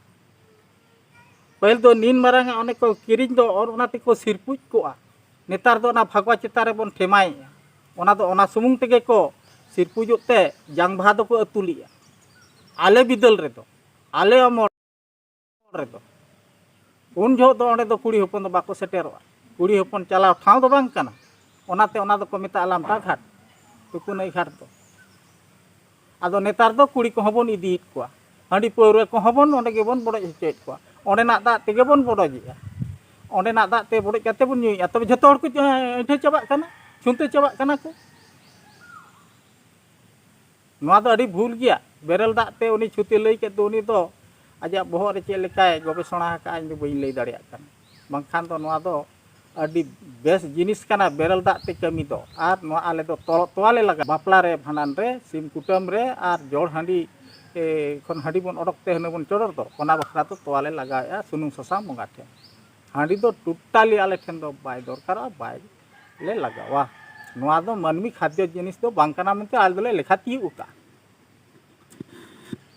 S3: ᱯᱟᱹᱦᱤᱞ ᱫᱚ ᱱᱤᱱ ᱢᱟᱨᱟᱝ ᱚᱱᱮ ᱠᱚ ᱠᱤᱨᱤᱧ ᱫᱚ ᱚᱱᱟ ᱛᱮᱠᱚ ᱥᱤᱨᱯᱩᱡ ᱠᱚᱜᱼᱟ ᱱᱮᱛᱟᱨ ᱫᱚ ᱚᱱᱟ ᱵᱷᱟᱜᱽᱣᱟ ᱪᱮᱛᱟᱱ ᱨᱮᱵᱚᱱ ᱴᱷᱮᱢᱟᱭᱮᱜᱼᱟ ᱚᱱᱟ ᱫᱚ ᱚᱱᱟ ᱥᱩᱢᱩᱝ ᱛᱮᱜᱮ ᱠᱚ ᱥᱤᱨᱯᱩᱡᱚᱜ ᱛᱮ ᱡᱟᱝ ᱵᱟᱦᱟ ᱫᱚᱠᱚ ᱟᱹᱛᱩ ᱞᱮᱜᱼᱟ ᱟᱞᱮ ᱵᱤᱫᱟᱹᱞ ᱨᱮᱫᱚ ᱟᱞᱮ ᱚᱢᱚᱞ ᱨᱮᱫᱚ ᱩᱱ ᱡᱚᱦᱚᱜ ᱫᱚ ᱚᱸᱰᱮ ᱫᱚ ᱠᱩᱲᱤ ᱦᱚᱯᱚᱱ ᱫᱚ ᱵᱟᱠᱚ ᱥᱮᱴᱮᱨᱚᱜᱼᱟ ᱠᱩᱲᱤ ᱦᱚᱯᱚᱱ ᱪᱟᱞᱟᱣ ᱴᱷᱟᱶ ᱫᱚ ᱵᱟᱝ ᱠᱟᱱᱟ ᱚᱱᱟᱛᱮ ᱚᱱᱟ ᱫᱚᱠᱚ ᱢᱮᱛᱟᱜᱼᱟ ᱞᱟᱢᱴᱟ ᱜᱷᱟᱴ ᱛᱩᱠᱩᱱᱟᱹᱭ ᱜᱷᱟᱴ ᱫᱚ ᱟᱫᱚ ᱱᱮᱛᱟᱨ ᱫᱚ ᱠᱩᱲᱤ ᱠᱚᱦᱚᱸ ᱵᱚᱱ ᱤᱫᱤᱭᱮᱫ ᱠᱚᱣᱟ ᱦᱟᱺᱰᱤ ᱯᱟᱹᱣᱨᱟᱹ ᱠᱚᱦᱚᱸ ᱵᱚᱱ ᱚᱸᱰᱮ ᱜᱮᱵᱚᱱ ᱵᱚᱰᱚᱡ ᱦᱚᱪᱚᱭᱮᱫ ᱠᱚᱣᱟ ᱚᱸᱰᱮᱱᱟᱜ ᱫᱟᱜ ᱛᱮᱜᱮ ᱵᱚᱱ ᱵᱚᱰᱚᱡᱮᱜᱼᱟ ᱚᱸᱰᱮᱱᱟᱜ ᱫᱟᱜ ᱛᱮ ᱵᱚᱰᱚᱡ ᱠᱟᱛᱮ ᱵᱚᱱ ᱧᱩᱭᱮᱜᱼᱟ ᱛᱚᱵᱮ ᱡᱚᱛᱚ ᱦᱚᱲ ᱠᱚ ᱟᱹᱭᱴᱷᱟᱹ ᱪᱟᱵᱟᱜ ᱠᱟᱱᱟ ᱪᱷᱩᱱᱛᱟᱹ ᱪᱟᱵᱟᱜ ᱠᱟᱱᱟ ᱠᱚ ᱱᱚᱣᱟ ᱫᱚ ᱟᱹᱰᱤ ᱵᱷᱩᱞ ᱜᱮᱭᱟ ᱵᱮᱨᱮᱞ ᱫᱟᱜ ᱛᱮ ᱩᱱᱤ ᱪᱷᱩᱛᱤ ᱞᱟᱹᱭ ᱠᱮᱫ ᱫᱚ ᱩᱱᱤ ᱫᱚ ᱟᱡᱟᱜ ᱵᱚᱦᱚᱜ ᱨᱮ ᱪᱮᱫ ᱞᱮᱠᱟᱭ ᱜᱚᱵᱮᱥᱚᱱᱟ ᱟᱠᱟᱫᱼᱟ ᱤᱧ ᱫᱚ ᱵᱟᱹᱧ ᱞᱟᱹᱭ ᱫᱟᱲᱮᱭᱟᱜ ᱠᱟᱱᱟ ᱵᱟᱝᱠᱷᱟᱱ ᱫᱚ ᱱᱚᱣᱟ ᱫᱚ ᱟᱹᱰᱤ ᱵᱮᱥ ᱡᱤᱱᱤᱥ ᱠᱟᱱᱟ ᱵᱮᱨᱮᱞ ᱫᱟᱜ ᱛᱮ ᱠᱟᱹᱢᱤ ᱫᱚ ᱟᱨ ᱱᱚᱣᱟ ᱟᱞᱮ ᱫᱚ ᱛᱚᱞᱚᱜ ᱛᱚᱣᱟ ᱞᱮ ᱞᱟᱜᱟᱣᱟ ᱵᱟᱯᱞᱟ ᱨᱮ ᱵᱷᱟᱸᱰᱟᱱ ᱨᱮ ᱥᱤᱢ ᱠᱩᱴᱟᱹᱢ ᱨᱮ ᱟᱨ ᱡᱚᱲ ᱦᱟᱺᱰᱤ ᱠᱷᱚᱱ ᱦᱟᱺᱰᱤ ᱵᱚᱱ ᱚᱰᱚᱠ ᱛᱮ ᱦᱟᱺᱰᱤ ᱵᱚᱱ ᱪᱚᱰᱚᱨ ᱫᱚ ᱚᱱᱟ ᱵᱟᱠᱷᱨᱟ ᱫᱚ ᱛᱚᱣᱟ ᱞᱮ ᱞᱟᱜᱟᱣᱮᱜᱼᱟ ᱥᱩᱱᱩᱢ ᱥᱟᱥᱟᱝ ᱵᱚᱸᱜᱟ ᱴᱷᱮᱱ ᱦᱟᱺᱰᱤ ᱫᱚ ᱴᱳᱴᱟᱞᱤ ᱟᱞᱮ ᱴᱷᱮᱱ ᱫᱚ ᱵᱟᱭ ᱫᱚᱨᱠᱟᱨᱚᱜᱼᱟ ᱵᱟᱭ ᱞᱮ ᱞᱟᱜᱟᱣᱟ ᱱᱚᱣᱟ ᱫᱚ ᱢᱟᱹᱱᱢᱤ ᱠᱷᱟᱫᱽᱫᱚ ᱡᱤᱱᱤᱥ ᱫᱚ ᱵᱟᱝ ᱠᱟᱱᱟ ᱢᱮᱱᱛᱮ ᱟᱞᱮ ᱫᱚᱞᱮ ᱞᱮᱠᱷᱟ ᱛᱤᱭᱳᱜ ᱟᱠᱟᱫᱼᱟ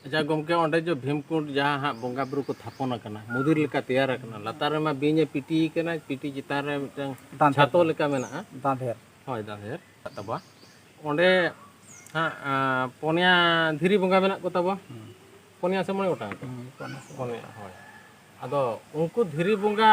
S2: ᱟᱪᱪᱷᱟ ᱜᱚᱢᱠᱮ ᱚᱸᱰᱮ ᱡᱮ ᱵᱷᱤᱢᱠᱩᱸᱰ ᱡᱟᱦᱟᱸ ᱦᱟᱸᱜ ᱵᱚᱸᱜᱟ ᱵᱩᱨᱩ ᱠᱚ ᱛᱷᱟᱯᱚᱱ ᱟᱠᱟᱱᱟ ᱢᱚᱫᱤᱨ ᱞᱮᱠᱟ ᱛᱮᱭᱟᱨ ᱟᱠᱟᱱᱟ ᱞᱟᱛᱟᱨ ᱨᱮᱢᱟ ᱵᱤᱧ ᱮ ᱯᱤᱴᱤ ᱟᱠᱟᱱᱟ ᱯᱤᱴᱤ ᱪᱮᱛᱟᱱ ᱨᱮ ᱢᱤᱫᱴᱟᱝ ᱫᱟᱱ ᱪᱷᱟᱛᱚ ᱞᱮᱠᱟ ᱢᱮᱱᱟᱜᱼᱟ ᱫᱟᱸᱫᱷᱮᱨ ᱦᱳᱭ
S3: ᱫᱟᱸᱫᱷᱮᱨ
S2: ᱛᱟᱵᱚᱣᱟ ᱚᱸᱰᱮ ᱦᱟᱸᱜ ᱯᱚᱱᱭᱟ ᱫᱷᱤᱨᱤ ᱵᱚᱸᱜᱟ ᱢᱮᱱᱟᱜ ᱠᱚ ᱛᱟᱵᱚᱣᱟ ᱯᱚᱱᱭᱟ ᱥᱮ ᱢᱚᱬᱮ ᱜᱚᱴᱟᱝ ᱯᱚᱱᱭᱟ ᱦᱳᱭ ᱟᱫᱚ ᱩᱱᱠᱩ ᱫᱷᱤᱨᱤ ᱵᱚᱸᱜᱟ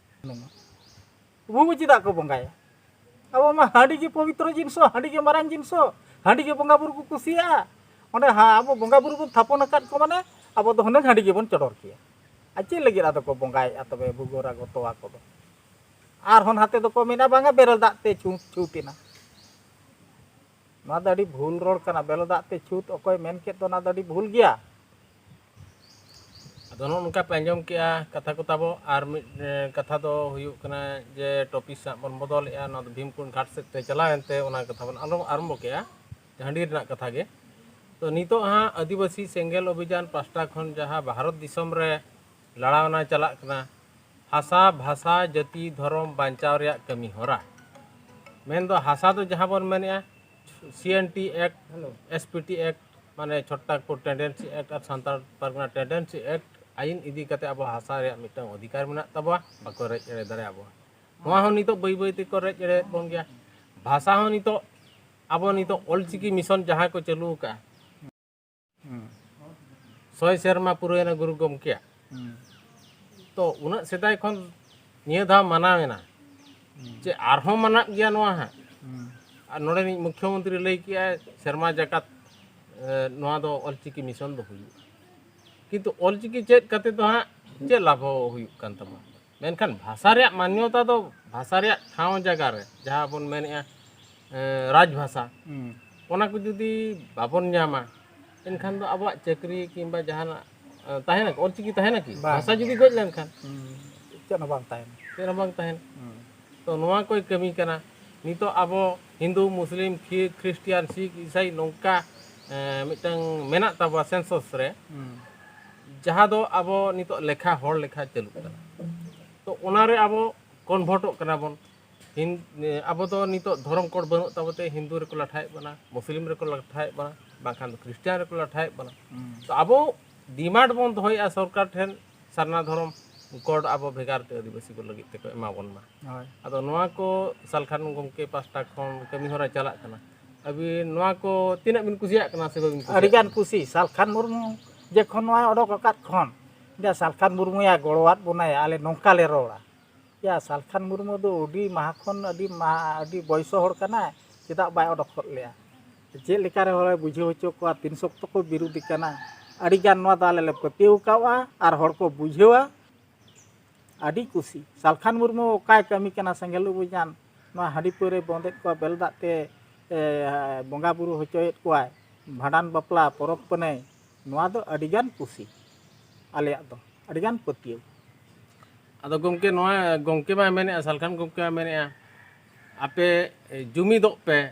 S3: ᱵᱩᱵᱩ ᱪᱮᱫᱟᱜ ᱠᱚ ᱵᱚᱸᱜᱟᱭᱟ ᱟᱵᱚ ᱢᱟ ᱦᱟᱺᱰᱤ ᱜᱮ ᱯᱚᱵᱤᱛᱨᱚ ᱡᱤᱱᱤᱥ ᱦᱟᱺᱰᱤ ᱜᱮ ᱢᱟᱨᱟᱝ ᱡᱤᱱᱤᱥ ᱦᱟᱺᱰᱤ ᱜᱮ ᱵᱚᱸᱜᱟ ᱵᱩᱨᱩ ᱠᱚ ᱠᱩᱥᱤᱭᱟᱜᱼᱟ ᱚᱸᱰᱮ ᱟᱵᱚ ᱵᱚᱸᱜᱟ ᱵᱩᱨᱩ ᱵᱚᱱ ᱛᱷᱟᱯᱚᱱ ᱟᱠᱟᱫ ᱠᱚ ᱢᱟᱱᱮ ᱟᱵᱚ ᱫᱚ ᱦᱩᱱᱟᱹᱝ ᱦᱟᱺᱰᱤ ᱜᱮᱵᱚᱱ ᱪᱚᱰᱚᱨ ᱠᱮᱭᱟ ᱟᱨ ᱪᱮᱫ ᱞᱟᱹᱜᱤᱫ ᱟᱫᱚ ᱠᱚ ᱵᱚᱸᱜᱟᱭᱮᱫᱼᱟ ᱛᱚᱵᱮ ᱵᱷᱩᱜᱳᱨᱟ ᱜᱚᱛᱚᱣᱟ ᱠᱚᱫᱚ ᱟᱨᱦᱚᱸ ᱱᱟᱛᱮ ᱫᱚᱠᱚ ᱢᱮᱱᱟ ᱵᱟᱝᱟ ᱵᱮᱨᱮᱞ ᱫᱟᱜ ᱛᱮ ᱪᱷᱩᱸᱛ ᱪᱷᱩᱸᱛ ᱮᱱᱟ ᱱᱚᱣᱟ ᱫᱚ ᱟᱹᱰᱤ ᱵᱷᱩᱞ ᱨᱚᱲ ᱠᱟᱱᱟ ᱵᱮᱨᱮᱞ ᱫᱟᱜ ᱛᱮ ᱪᱷᱩᱸᱛ ᱚᱠᱚᱭ ᱢᱮᱱ ᱠᱮᱫ ᱫᱚ ᱚᱱᱟ ᱫᱚ ᱟᱹᱰᱤ ᱵᱷᱩᱞ ᱜᱮᱭᱟ
S2: ᱟᱫᱚ ᱱᱚᱜᱼᱚ ᱱᱚᱝᱠᱟ ᱯᱮ ᱟᱸᱡᱚᱢ ᱠᱮᱜᱼᱟ ᱠᱟᱛᱷᱟ ᱠᱚ ᱛᱟᱵᱚ ᱟᱨ ᱢᱤᱫ ᱠᱟᱛᱷᱟ ᱫᱚ ᱦᱩᱭᱩᱜ ᱠᱟᱱᱟ ᱡᱮ ᱴᱚᱯᱤᱠ ᱥᱟᱵ ᱵᱚᱱ ᱵᱚᱫᱚᱞᱮᱜᱼᱟ ᱱᱚᱣᱟ ᱫᱚ ᱵᱷᱤᱢᱠᱩᱱ ᱜᱷᱟᱴ ᱥᱮᱫ ᱛᱮ ᱪᱟᱞᱟᱣ ᱮᱱᱛᱮ ᱚᱱᱟ ᱠᱟᱛᱷᱟ ᱵᱚᱱ ᱟᱞᱚ ᱟᱨᱟᱢᱵᱚ ᱠᱮᱜᱼᱟ ᱦᱟᱺᱰᱤ ᱨᱮᱱᱟᱜ ᱠᱟᱛᱷᱟ ᱜᱮ ᱛᱚ ᱱᱤᱛᱚᱜ ᱦᱟᱸᱜ ᱟᱹᱫᱤᱵᱟᱹᱥᱤ ᱥᱮᱸᱜᱮᱞ ᱚᱵᱷᱤᱡᱟᱱ ᱯᱟᱥᱴᱟ ᱠᱷᱚᱱ ᱡᱟᱦᱟᱸ ᱵᱷᱟᱨᱚᱛ ᱫᱤᱥᱚᱢ ᱨᱮ ᱞᱟᱲᱟᱣᱱᱟ ᱪᱟᱞᱟᱜ ᱠᱟᱱᱟ ᱦᱟᱥᱟ ᱵᱷᱟᱥᱟ ᱡᱟᱹᱛᱤ ᱫᱷᱚᱨᱚᱢ ᱵᱟᱧᱪᱟᱣ ᱨᱮᱭᱟᱜ ᱠᱟᱹᱢᱤ ᱦᱚᱨᱟ ᱢᱮᱱᱫᱚ ᱦᱟᱥᱟ ᱫᱚ ᱡᱟᱦᱟᱸ ᱵᱚᱱ ᱢᱮᱱᱮᱜᱼᱟ C N T act S P T act ᱢᱟᱱᱮ ᱪᱷᱚᱴᱴᱟᱠᱯᱩᱨ ᱴᱮᱱᱰᱮᱱᱥᱤ ᱮᱠᱴ ᱟᱨ ᱥᱟᱱᱛᱟᱲ ᱯᱟᱨᱜᱟᱱᱟ ᱴᱮᱱᱰᱮᱱᱥᱤ ᱮᱠᱴ ᱟᱭᱤᱱ ᱤᱫᱤ ᱠᱟᱛᱮ ᱟᱵᱚ ᱦᱟᱥᱟ ᱨᱮᱭᱟᱜ ᱢᱤᱫᱴᱟᱝ ᱚᱫᱷᱤᱠᱟᱨ ᱢᱮᱱᱟᱜ ᱛᱟᱵᱚᱣᱟ ᱵᱟᱠᱚ ᱨᱮᱡ ᱮᱲᱮ ᱫᱟᱲᱮᱭᱟ ᱵᱚᱱᱟ ᱱᱚᱣᱟ ᱦᱚᱸ ᱱᱤᱛᱚᱜ ᱵᱟᱹᱭ ᱵᱟᱹᱭ ᱛᱮᱠᱚ ᱨᱮᱡ ᱮᱲᱮᱭᱮᱫ ᱵᱚᱱ ᱜᱮᱭᱟ ᱵᱷᱟᱥᱟ ᱦᱚᱸ ᱱᱤᱛᱚᱜ ᱟᱵᱚ ᱱᱤᱛᱚᱜ ᱚᱞᱪᱤᱠᱤ ᱢᱤᱥᱚᱱ ᱡᱟᱦᱟᱸ ᱠᱚ ᱪᱟᱹᱞᱩ ᱟᱠᱟᱫᱼᱟ ᱥᱚᱭ ᱥᱮᱨᱢᱟ ᱯᱩᱨᱟᱹᱭᱮᱱᱟ ᱜᱩᱨᱩ ᱜᱚᱢᱠᱮᱭᱟᱜ ᱛᱚ ᱩᱱᱟᱹᱜ ᱥᱮᱫᱟᱭ ᱠᱷᱚᱱ ᱱᱤᱭᱟᱹ ᱫᱷᱟᱣ ᱢᱟᱱᱟᱣᱮᱱᱟ ᱪᱮ ᱟᱨᱦᱚᱸ ᱢᱟᱱᱟᱜ ᱜᱮᱭᱟ ᱱᱚᱣᱟ ᱦᱟᱸᱜ ᱟᱨ ᱱᱚᱰᱮᱱᱤᱡ ᱢᱩᱠᱷᱭᱚᱢᱚᱱᱛᱨᱤ ᱞᱟᱹᱭ ᱠᱮᱜᱼᱟᱭ ᱥᱮᱨᱢᱟ ᱡᱟᱠᱟᱛ ᱱᱚᱣᱟ ᱫᱚ ᱚᱞᱪᱤᱠᱤ ᱢᱤᱥᱚᱱ ᱫᱚ ᱦᱩᱭᱩᱜᱼᱟ ᱠᱤᱱᱛᱩ ᱚᱞᱪᱤᱠᱤ ᱪᱮᱫ ᱠᱟᱛᱮ ᱫᱚ ᱦᱟᱸᱜ ᱪᱮᱫ ᱞᱟᱵᱷ ᱦᱩᱭᱩᱜ ᱠᱟᱱ ᱛᱟᱵᱚᱱᱟ ᱢᱮᱱᱠᱷᱟᱱ ᱵᱷᱟᱥᱟ ᱨᱮᱭᱟᱜ ᱢᱟᱱᱭᱚᱛᱟ ᱫᱚ ᱵᱷᱟᱥᱟ ᱨᱮᱭᱟᱜ ᱴᱷᱟᱶ ᱡᱟᱭᱜᱟ ᱨᱮ ᱡᱟᱦᱟᱸ ᱵᱚᱱ ᱢᱮᱱᱮᱜᱼᱟ ᱨᱟᱡᱽ ᱵᱷᱟᱥᱟ ᱚᱱᱟ ᱠᱚ ᱡᱩᱫᱤ ᱵᱟᱵᱚᱱ ᱧᱟᱢᱟ ᱮᱱᱠᱷᱟᱱ ᱫᱚ ᱟᱵᱚᱣᱟᱜ ᱪᱟᱹᱠᱨᱤ ᱠᱤᱝᱵᱟ ᱡᱟᱦᱟᱱᱟᱜ ᱛᱟᱦᱮᱱᱟ ᱚᱞᱪᱤᱠᱤ ᱛᱟᱦᱮᱱᱟ ᱠᱤ ᱵᱷᱟᱥᱟ ᱡᱩᱫᱤ ᱜᱚᱡ ᱞᱮᱱᱠᱷᱟᱱ ᱪᱮᱫ ᱦᱚᱸ
S3: ᱵᱟᱝ ᱛᱟᱦᱮᱱᱟ ᱪᱮᱫ ᱦᱚᱸ ᱵᱟᱝ ᱛᱟᱦᱮᱱᱟ
S2: ᱛᱚ ᱱᱚᱣᱟ ᱠᱚᱭ ᱠᱟᱹᱢᱤ ᱠᱟᱱᱟ ᱱᱤᱛᱚᱜ ᱟᱵᱚ ᱦᱤᱱᱫᱩ ᱢᱩᱥᱞᱤᱢ ᱠᱷᱨᱤᱥᱴᱤᱭᱟᱱ ᱥᱤᱠᱷ ᱤᱥᱟᱭ ᱱᱚᱝᱠᱟ ᱢᱤᱫᱴᱟᱝ ᱢᱮᱱᱟᱜ ᱛᱟᱵᱚᱣᱟ ᱥᱮᱱᱥᱚᱥ ᱨᱮ ᱡᱟᱦᱟᱸ ᱫᱚ ᱟᱵᱚ ᱱᱤᱛᱚᱜ ᱞᱮᱠᱷᱟ ᱦᱚᱲ ᱞᱮᱠᱷᱟ ᱪᱟᱹᱞᱩᱜ ᱠᱟᱱᱟ ᱛᱚ ᱚᱱᱟᱨᱮ ᱟᱵᱚ ᱠᱚᱱᱵᱷᱟᱨᱴᱚᱜ ᱠᱟᱱᱟ ᱵᱚᱱ ᱟᱵᱚ ᱫᱚ ᱱᱤᱛᱚᱜ ᱫᱷᱚᱨᱚᱢ ᱠᱳᱰ ᱵᱟᱹᱱᱩᱜ ᱛᱟᱵᱚᱛᱮ ᱦᱤᱱᱫᱩ ᱨᱮᱠᱚ ᱞᱟᱴᱷᱟᱭᱮᱫ ᱵᱚᱱᱟ ᱢᱩᱥᱞᱤᱢ ᱨᱮᱠᱚ ᱞᱟᱴᱷᱟᱭᱮᱫ ᱵᱚᱱᱟ ᱵᱟᱝᱠᱷᱟᱱ ᱫᱚ ᱠᱷᱨᱤᱥᱴᱤᱭᱟᱱ ᱨᱮᱠᱚ ᱞᱟᱴᱷᱟᱭᱮᱫ ᱵᱚᱱᱟ ᱛᱚ ᱟᱵᱚ ᱰᱤᱢᱟᱱᱰ ᱵᱚᱱ ᱫᱚᱦᱚᱭᱮᱫᱼᱟ ᱥᱚᱨᱠᱟᱨ ᱴᱷᱮᱱ ᱥᱟᱨᱱᱟ ᱫᱷᱚᱨᱚᱢ ᱠᱳᱰ ᱟᱵᱚ ᱵᱷᱮᱜᱟᱨ ᱛᱮ ᱟᱹᱫᱤᱵᱟᱹᱥᱤ ᱠᱚ ᱞᱟᱹᱜᱤᱫ ᱛᱮᱠᱚ ᱮᱢᱟ ᱵᱚᱱ ᱢᱟ ᱦᱳᱭ ᱟᱫᱚ ᱱᱚᱣᱟ ᱠᱚ ᱥᱟᱞᱠᱷᱟᱱ ᱜᱚᱢᱠᱮ ᱯᱟᱥᱴᱟ ᱠᱷᱚᱱ ᱠᱟᱹᱢᱤ ᱦᱚᱨᱟ ᱪᱟᱞᱟᱜ ᱠᱟᱱᱟ ᱟᱹᱵᱤᱱ ᱱᱚᱣᱟ ᱠᱚ ᱛᱤᱱᱟᱹᱜ ᱵᱤᱱ ᱠᱩᱥᱤᱭᱟᱜ ᱠᱟᱱᱟ ᱥᱮ ᱵᱟᱹᱵᱤᱱ ᱠᱩᱥᱤᱭᱟᱜ ᱟᱹᱰᱤ ᱜᱟᱱ ᱠᱩᱥᱤ ᱥᱟᱞᱠᱷᱟᱱ
S3: ᱢᱩᱨᱢᱩ ᱡᱚᱠᱷᱚᱱ ᱱᱚᱣᱟ ᱚᱰᱚᱠ ᱟᱠᱟᱫ ᱠᱷᱚᱱ ᱡᱟ ᱥᱟᱞᱠᱷᱟᱱ ᱢᱩᱨᱢᱩᱭᱟ ᱜᱚᱲᱚᱣᱟᱫ ᱵᱚᱱᱟᱭᱟ ᱟᱞᱮ ᱱᱚᱝᱠᱟ ᱞᱮ ᱨᱚᱲᱟ ᱭᱟ ᱥᱟᱞᱠᱷᱟᱱ ᱢᱩᱨᱢᱩ ᱫᱚ ᱟᱹᱰᱤ ᱢᱟᱦᱟ ᱠᱷᱚᱱ ᱟᱹᱰᱤ ᱢᱟᱦᱟ ᱟᱹᱰᱤ ᱵᱚᱭᱮᱥᱚ ᱦᱚᱲ ᱠᱟᱱᱟᱭ ᱪᱮᱫᱟᱜ ᱵᱟᱭ ᱚᱰᱚᱠ ᱦᱚᱫ ᱞᱮᱭᱟ ᱪᱮᱫ ᱞᱮᱠᱟ ᱨᱮ ᱦᱚᱲᱮ ᱵᱩᱡᱷᱟᱹᱣ ᱦᱚᱪᱚ ᱠᱚᱣᱟ ᱛᱤᱱ ᱥᱚᱠᱛᱚ ᱠᱚ ᱵᱤᱨᱩᱫᱷᱤ ᱠᱟᱱᱟ ᱟᱹᱰᱤ ᱜᱟᱱ ᱱᱚᱣᱟ ᱫᱚ ᱟᱞᱮ ᱞᱮ ᱯᱟᱹᱛᱭᱟᱹᱣ ᱠᱟᱜᱼᱟ ᱟᱨ ᱦᱚᱲ ᱠᱚ ᱵᱩᱡᱷᱟᱹᱣᱟ ᱟᱹᱰᱤ ᱠᱩᱥᱤ ᱥᱟᱞᱠᱷᱟᱱ ᱢᱩᱨᱢᱩ ᱚᱠᱟᱭ ᱠᱟᱹᱢᱤ ᱠᱟᱱᱟ ᱥᱮᱸᱜᱮᱞ ᱩᱵᱩᱧᱟᱱ ᱱᱚᱣᱟ ᱦᱟᱺᱰᱤ ᱯᱟᱹᱣᱨᱟᱹᱭ ᱵᱚᱸᱫᱮᱫ ᱠᱚᱣᱟ ᱵᱮᱞ ᱫᱟᱜ ᱛᱮ ᱵᱚᱸᱜᱟ ᱵᱩᱨᱩ ᱦᱚᱪᱚᱭᱮᱫ ᱠᱚᱣᱟᱭ ᱵᱷᱟᱸᱰᱟᱱ ᱵᱟᱯᱞᱟ ᱯᱚᱨᱚᱵᱽ ᱯᱩᱱᱟᱹᱭ ᱱᱚᱣᱟ ᱫᱚ ᱟᱹᱰᱤ ᱜᱟᱱ ᱠᱩᱥᱤ ᱟᱞᱮᱭᱟᱜ ᱫᱚ ᱟᱹᱰᱤ ᱜᱟᱱ ᱯᱟᱹᱛᱭᱟᱹᱣ
S2: ᱟᱫᱚ ᱜᱚᱢᱠᱮ ᱱᱚᱣᱟ ᱜᱚᱢᱠᱮ ᱢᱟᱭ ᱢᱮᱱᱮᱫᱼᱟ ᱥᱟᱞᱠᱷᱟᱱ ᱜᱚᱢᱠᱮ ᱢᱟᱭ ᱢᱮᱱᱮᱫᱼᱟ ᱟᱯᱮ ᱡᱩᱢᱤᱫᱚᱜ ᱯᱮ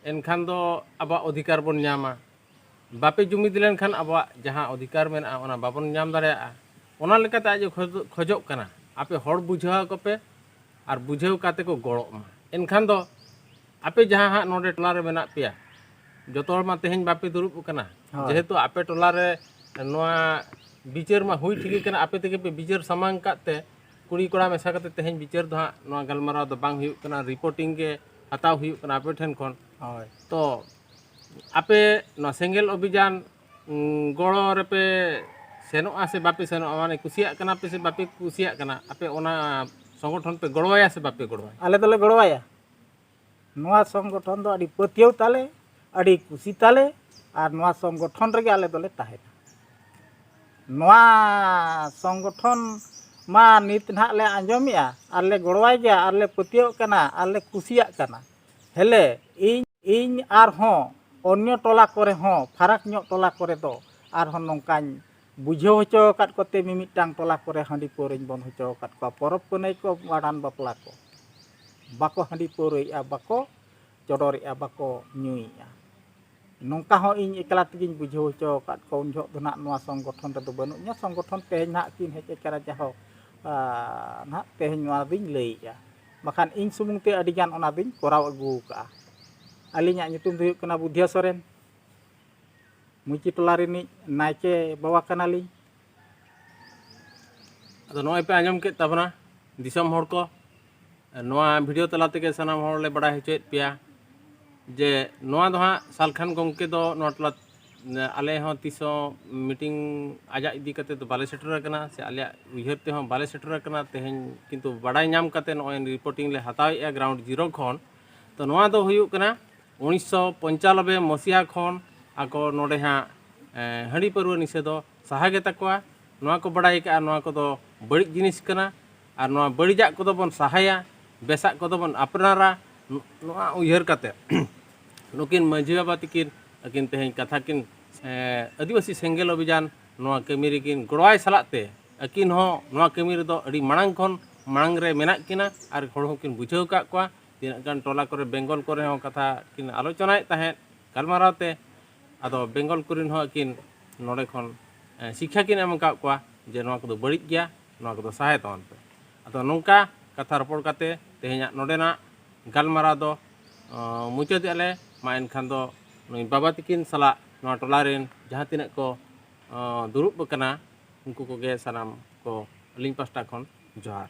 S2: ᱮᱱᱠᱷᱟᱱ ᱫᱚ ᱟᱵᱚᱣᱟᱜ ᱚᱫᱷᱤᱠᱟᱨ ᱵᱚᱱ ᱧᱟᱢᱟ ᱵᱟᱯᱮ ᱡᱩᱢᱤᱫ ᱞᱮᱱᱠᱷᱟᱱ ᱟᱵᱚᱣᱟᱜ ᱡᱟᱦᱟᱸ ᱚᱫᱷᱤᱠᱟᱨ ᱢᱮᱱᱟᱜᱼᱟ ᱚᱱᱟ ᱵᱟᱵᱚᱱ ᱧᱟᱢ ᱫᱟᱲᱮᱭᱟᱜᱼᱟ ᱚᱱᱟ ᱞᱮᱠᱟᱛᱮ ᱟᱡ ᱮ ᱠᱷᱚᱡᱚᱜ ᱠᱟᱱᱟ ᱟᱯᱮ ᱦᱚᱲ ᱵᱩᱡᱷᱟᱹᱣ ᱟᱠᱚ ᱯᱮ ᱟᱨ ᱵᱩᱡᱷᱟᱹᱣ ᱠᱟᱛᱮᱫ ᱠᱚ ᱜᱚᱲᱚᱜ ᱢᱟ ᱮᱱᱠᱷᱟᱱ ᱫᱚ ᱟᱯᱮ ᱡᱟᱦᱟᱸ ᱦᱟᱸᱜ ᱱᱚᱰᱮ ᱴᱚᱞᱟ ᱨᱮ ᱢᱮᱱᱟᱜ ᱯᱮᱭᱟ ᱡᱚᱛᱚ ᱦᱚᱲ ᱢᱟ ᱛᱮᱦᱮᱧ ᱵᱟᱯᱮ ᱫᱩᱲᱩᱵ ᱟᱠᱟᱱᱟ ᱦᱳᱭ᱾ ᱡᱮᱦᱮᱛᱩ ᱟᱯᱮ ᱴᱚᱞᱟ ᱨᱮ ᱱᱚᱣᱟ ᱵᱤᱪᱟᱹᱨ ᱢᱟ ᱦᱩᱭ ᱴᱷᱤᱠ ᱠᱟᱱᱟ ᱟᱯᱮ ᱛᱮᱜᱮ ᱯᱮ ᱵᱤᱪᱟᱹᱨ ᱥᱟᱢᱟᱝ ᱠᱟᱜ ᱛᱮ ᱠᱩᱲᱤ ᱠᱚᱲᱟ ᱢᱮᱥᱟ ᱠᱟᱛᱮ ᱛᱮᱦᱮᱧ ᱵᱤᱪᱟᱹᱨ ᱫᱚ ᱦᱟᱸᱜ ᱱᱚᱣᱟ ᱜᱟᱞᱢᱟᱨᱟᱣ ᱫᱚ ᱵᱟᱝ ᱦᱩᱭᱩᱜ ᱠᱟᱱᱟ ᱨᱤᱯᱳᱨᱴᱤᱝ ᱜᱮ ᱦᱟᱛᱟᱣ ᱦᱩᱭᱩᱜ ᱠᱟᱱᱟ ᱟᱯᱮ ᱴᱷᱮᱱ ᱠᱷᱚᱱ ᱦᱳᱭ ᱛᱚ ᱟᱯᱮ ᱱᱚᱣᱟ ᱥᱮᱸᱜᱮᱞ ᱚᱵᱷᱤᱡᱟᱱ ᱩᱸ, ᱜᱚᱲᱚ ᱨᱮᱯᱮ ᱥᱮᱱᱚᱜᱼᱟ ᱥᱮ ᱵᱟᱯᱮ ᱥᱮᱱᱚᱜᱼᱟ ᱢᱟᱱᱮ ᱠᱩᱥᱤᱭᱟᱜ ᱠᱟᱱᱟ ᱯᱮ ᱥᱮ ᱵᱟᱯᱮ ᱠᱩᱥᱤᱭᱟᱜ ᱠᱟᱱᱟ ᱟᱯᱮ ᱚᱱᱟ ᱥᱚᱝᱜᱚᱴᱷᱚᱱ ᱯᱮ ᱜᱚᱲᱚᱣᱟᱭᱟ ᱥᱮ ᱵᱟᱯᱮ ᱜᱚᱲᱚᱣᱟᱭᱟ ᱟᱞᱮ ᱫᱚᱞᱮ ᱜᱚᱲᱚᱣᱟᱭᱟ
S3: ᱱᱚᱣᱟ ᱥᱚᱝᱜᱚᱴᱷᱚᱱ ᱫᱚ ᱟᱹᱰᱤ ᱯᱟᱹᱛᱭᱟᱹᱣ ᱛᱟᱞᱮ ᱟᱹᱰᱤ ᱠᱩᱥᱤ ᱛᱟᱞᱮ ᱟᱨ ᱱᱚᱣᱟ ᱥᱚᱝᱜᱚᱴᱷᱚᱱ ᱨᱮᱜᱮ ᱟᱞᱮ ᱫᱚᱞᱮ ᱛᱟᱦᱮᱱᱟ ᱱᱚᱣᱟ ᱥᱚᱝᱜᱚᱴᱷᱚᱱ ᱢᱟ ᱱᱤᱛ ᱱᱟᱦᱟᱜ ᱞᱮ ᱟᱸᱡᱚᱢᱮᱜᱼᱟ ᱟᱨ ᱞᱮ ᱜᱚᱲᱚᱣᱟᱭ ᱜᱮᱭᱟ ᱟᱨ ᱞᱮ ᱯᱟᱹᱛᱭᱟᱹᱣᱚᱜ ᱠᱟᱱᱟ ᱟᱨ ᱞᱮ ᱠᱩᱥᱤᱭᱟᱜ ᱠᱟᱱᱟ ᱦᱮᱞᱮ ᱤᱧ ᱤᱧ ᱟᱨᱦᱚᱸ ᱚᱱᱱᱚ ᱴᱚᱞᱟ ᱠᱚᱨᱮ ᱦᱚᱸ ᱯᱷᱟᱨᱟᱠ ᱧᱚᱜ ᱴᱚᱞᱟ ᱠᱚᱨᱮ ᱫᱚ ᱟᱨᱦᱚᱸ ᱱᱚᱝᱠᱟᱧ ᱵᱩᱡᱷᱟᱹᱣ ᱦᱚᱪᱚ ᱟᱠᱟᱫ ᱠᱚᱛᱮ ᱢᱤᱢᱤᱫᱴᱟᱝ ᱴᱚᱞᱟ ᱠᱚᱨᱮ ᱦᱟᱺᱰᱤ ᱯᱟᱹᱣᱨᱟᱹᱧ ᱵᱚᱱ ᱦᱚᱪᱚ ᱟᱠᱟᱫ ᱠᱚᱣᱟ ᱯᱚᱨᱚᱵᱽ ᱯᱩᱱᱟᱹᱭ ᱠᱚ ᱵᱷᱟᱸᱰᱟᱱ ᱵᱟᱯᱞᱟ ᱠᱚ ᱵᱟᱠᱚ ᱦᱟᱺᱰᱤ ᱯᱟᱹᱣᱨᱟᱹᱭᱮᱜᱼᱟ ᱵᱟᱠᱚ ᱪᱚᱰᱚᱨᱮᱜᱼᱟ ᱵᱟᱠᱚ ᱧᱩᱭᱮᱜᱼᱟ ᱱᱚᱝᱠᱟ ᱦᱚᱸ ᱤᱧ ᱮᱠᱞᱟ ᱛᱮᱜᱮᱧ ᱵᱩᱡᱷᱟᱹᱣ ᱦᱚᱪᱚ ᱟᱠᱟᱫ ᱠᱚᱣᱟ ᱩᱱ ᱡᱚᱦᱚᱜ ᱫᱚ ᱱᱟᱦᱟᱜ ᱱᱚᱣᱟ ᱥᱚᱝᱜᱚᱴᱷᱚᱱ ᱨᱮᱫᱚ ᱵᱟᱹᱱᱩᱜ ᱤᱧᱟᱹ ᱥᱚᱝᱜᱚᱴᱷᱚᱱ ᱛᱮᱦᱮᱧ ᱱᱟᱦᱟᱜ ᱠᱤᱱ ᱦᱮᱡ ᱟᱠᱟᱱᱟ ᱡᱟᱦᱳ ᱱᱟᱦᱟᱜ ᱛᱮᱦᱮᱧ ᱱᱚᱣᱟ ᱫᱚᱧ ᱞᱟᱹᱭᱮᱜᱼᱟ ᱵᱟᱠᱷᱟᱱ ᱤᱧ ᱥᱩᱢᱩᱝ ᱛᱮ ᱟᱹᱰᱤ ᱜᱟᱱ ᱚᱱᱟ ᱫᱚᱧ ᱠᱚᱨᱟᱣ ᱟᱹᱜᱩ ᱟᱠᱟᱫᱼᱟ ᱟᱹᱞᱤᱧᱟᱜ ᱧᱩᱛᱩᱢ ᱫᱚ ᱦᱩᱭᱩᱜ ᱠᱟᱱᱟ ᱵᱩᱫᱷᱤᱭᱟᱹ ᱥᱚᱨᱮᱱ ᱢᱩᱪᱤ ᱴᱚᱞᱟ ᱨᱤᱱᱤᱡ ᱱᱟᱭᱠᱮ ᱵᱟᱵᱟ ᱠᱟᱱᱟᱞᱤᱧ
S2: ᱟᱫᱚ ᱱᱚᱜᱼᱚᱭ ᱯᱮ ᱟᱸᱡᱚᱢ ᱠᱮᱫ ᱛᱟᱵᱚᱱᱟ ᱫᱤᱥᱚᱢ ᱦᱚᱲ ᱠᱚ ᱱᱚᱣᱟ ᱵᱷᱤᱰᱤᱭᱳ ᱛᱟᱞᱟ ᱛᱮᱜᱮ ᱥᱟᱱᱟᱢ ᱦᱚᱲ ᱞᱮ ᱵᱟᱰᱟᱭ ᱦᱚᱪᱚᱭᱮᱫ ᱯᱮᱭᱟ ᱡᱮ ᱱᱚᱣᱟ ᱫᱚ ᱦᱟᱸᱜ ᱥᱟᱞᱠᱷᱟᱱ ᱜᱚᱢᱠᱮ ᱫᱚ ᱱᱚᱣᱟ ᱴᱚᱞᱟ ᱟᱞᱮ ᱦᱚᱸ ᱛᱤᱥ ᱦᱚᱸ ᱢᱤᱴᱤᱝ ᱟᱡᱟᱜ ᱤᱫᱤ ᱠᱟᱛᱮ ᱫᱚ ᱵᱟᱞᱮ ᱥᱮᱴᱮᱨ ᱟᱠᱟᱱᱟ ᱥᱮ ᱟᱞᱮᱭᱟᱜ ᱩᱭᱦᱟᱹᱨ ᱛᱮᱦᱚᱸ ᱵᱟᱞᱮ ᱥᱮᱴᱮᱨ ᱟᱠᱟᱱᱟ ᱛᱮᱦᱮᱧ ᱠᱤᱱᱛᱩ ᱵᱟᱰᱟᱭ ᱧᱟᱢ ᱠᱟᱛᱮ ᱱᱚᱜᱼᱚᱭ ᱨᱤᱯᱳᱨᱴᱤᱝ ᱞᱮ ᱦᱟᱛᱟᱣᱮᱫᱼᱟ ᱜᱨᱟᱣᱩᱱᱰ ᱡᱤᱨᱳ ᱠᱷᱚᱱ ᱛᱚ ᱱᱚᱣᱟ ᱫᱚ ᱦᱩᱭᱩᱜ ᱠᱟᱱᱟ ᱩᱱᱤᱥᱥᱚ ᱯᱚᱧᱪᱟᱱᱚᱵᱵᱮ ᱢᱚᱥᱤᱦᱟ ᱠᱷᱚᱱ ᱟᱠᱚ ᱱᱚᱰᱮ ᱦᱟᱸᱜ ᱦᱟᱺᱰᱤ ᱯᱟᱹᱨᱣᱟᱹ ᱱᱤᱥᱟᱹ ᱫᱚ ᱥᱟᱦᱟ ᱜᱮ ᱛᱟᱠᱚᱣᱟ ᱱᱚᱣᱟ ᱠᱚ ᱵᱟᱲᱟᱭ ᱠᱟᱜᱼᱟ ᱱᱚᱣᱟ ᱠᱚᱫᱚ ᱵᱟᱹᱲᱤᱡ ᱡᱤᱱᱤᱥ ᱠᱟᱱᱟ ᱟᱨ ᱱᱚᱣᱟ ᱵᱟᱹᱲᱤᱡᱟᱜ ᱠᱚᱫᱚ ᱵᱚᱱ ᱥᱟᱦᱟᱭᱟ ᱵᱮᱥᱟᱜ ᱠᱚᱫᱚ ᱵᱚᱱ ᱟᱯᱱᱟᱨᱟ ᱱᱚᱣᱟ ᱩᱭᱦᱟᱹᱨ ᱠᱟᱛᱮ ᱱᱩᱠᱤᱱ ᱢᱟᱹᱡᱷᱤ ᱵᱟᱵᱟ ᱛᱤᱠᱤᱱ ᱟᱹᱠᱤᱱ ᱛᱮᱦᱮᱧ ᱠᱟᱛᱷᱟ ᱠᱤᱱ ᱟᱹᱫᱤᱵᱟᱹᱥᱤ ᱥᱮᱸᱜᱮᱞ ᱚᱵᱷᱤᱡᱟᱱ ᱱᱚᱣᱟ ᱠᱟᱹᱢᱤ ᱨᱮᱠᱤᱱ ᱜᱚᱲᱚᱣᱟᱭ ᱥᱟᱞᱟᱜ ᱛᱮ ᱟᱹᱠᱤᱱ ᱦᱚᱸ ᱱᱚᱣᱟ ᱠᱟᱹᱢᱤ ᱨᱮᱫᱚ ᱟᱹᱰᱤ ᱢᱟᱲᱟᱝ ᱠᱷᱚᱱ ᱢᱟᱲᱟᱝ ᱨᱮ ᱢᱮᱱᱟᱜ ᱠᱤᱱᱟ ᱟᱨ ᱦᱚᱲ ᱦᱚᱸ ᱠᱤᱱ ᱵᱩᱡᱷᱟᱹᱣ ᱟᱠᱟᱫ ᱠᱚᱣᱟ ᱛᱤᱱᱟᱹᱜ ᱜᱟᱱ ᱴᱚᱞᱟ ᱠᱚᱨᱮ ᱵᱮᱝᱜᱚᱞ ᱠᱚᱨᱮ ᱦᱚᱸ ᱠᱟᱛᱷᱟ ᱠᱤᱱ ᱟᱞᱳᱪᱚᱱᱟᱭᱮᱫ ᱛᱟᱦᱮᱸᱫ ᱜᱟᱞᱢᱟᱨᱟᱣ ᱛᱮ ᱟᱫᱚ ᱵᱮᱝᱜᱚᱞ ᱠᱚᱨᱮᱱ ᱦᱚᱸ ᱟᱹᱠᱤᱱ ᱱᱚᱰᱮ ᱠᱷᱚᱱ ᱥᱤᱠᱠᱷᱟ ᱠᱤᱱ ᱮᱢ ᱟᱠᱟᱫ ᱠᱚᱣᱟ ᱡᱮ ᱱᱚᱣᱟ ᱠᱚᱫᱚ ᱵᱟᱹᱲᱤᱡ ᱜᱮᱭᱟ ᱱᱚᱣᱟ ᱠᱚᱫᱚ ᱥᱟᱦᱟᱭ ᱛᱟᱵᱚᱱ ᱯᱮ ᱟᱫᱚ ᱱᱚᱝᱠᱟ ᱠᱟᱛᱷᱟ ᱨᱚᱯᱚᱲ ᱠᱟᱛᱮ ᱛᱮᱦᱮᱧᱟᱜ ᱱᱚᱰᱮᱱᱟᱜ ᱜᱟᱞᱢᱟᱨᱟᱣ ᱫᱚ ᱢᱩᱪᱟᱹᱫᱮᱜᱼᱟ ᱞᱮ ᱢᱟ ᱮᱱᱠᱷᱟᱱ ᱫᱚ ᱱᱩᱭ ᱵᱟᱵᱟ ᱛᱟᱹᱠᱤᱱ ᱥᱟᱞᱟᱜ ᱱᱚᱣᱟ ᱴᱚᱞᱟ ᱨᱮᱱ ᱡᱟᱦᱟᱸ ᱛᱤᱱᱟᱹᱜ ᱠᱚ ᱫᱩᱲᱩᱵ ᱟᱠᱟᱱᱟ ᱩᱱᱠᱩ ᱠᱚᱜᱮ ᱥᱟᱱᱟᱢ ᱠᱚ ᱟᱹᱞᱤᱧ ᱯᱟᱥᱴᱟ ᱠᱷᱚᱱ ᱡᱚᱦᱟᱨ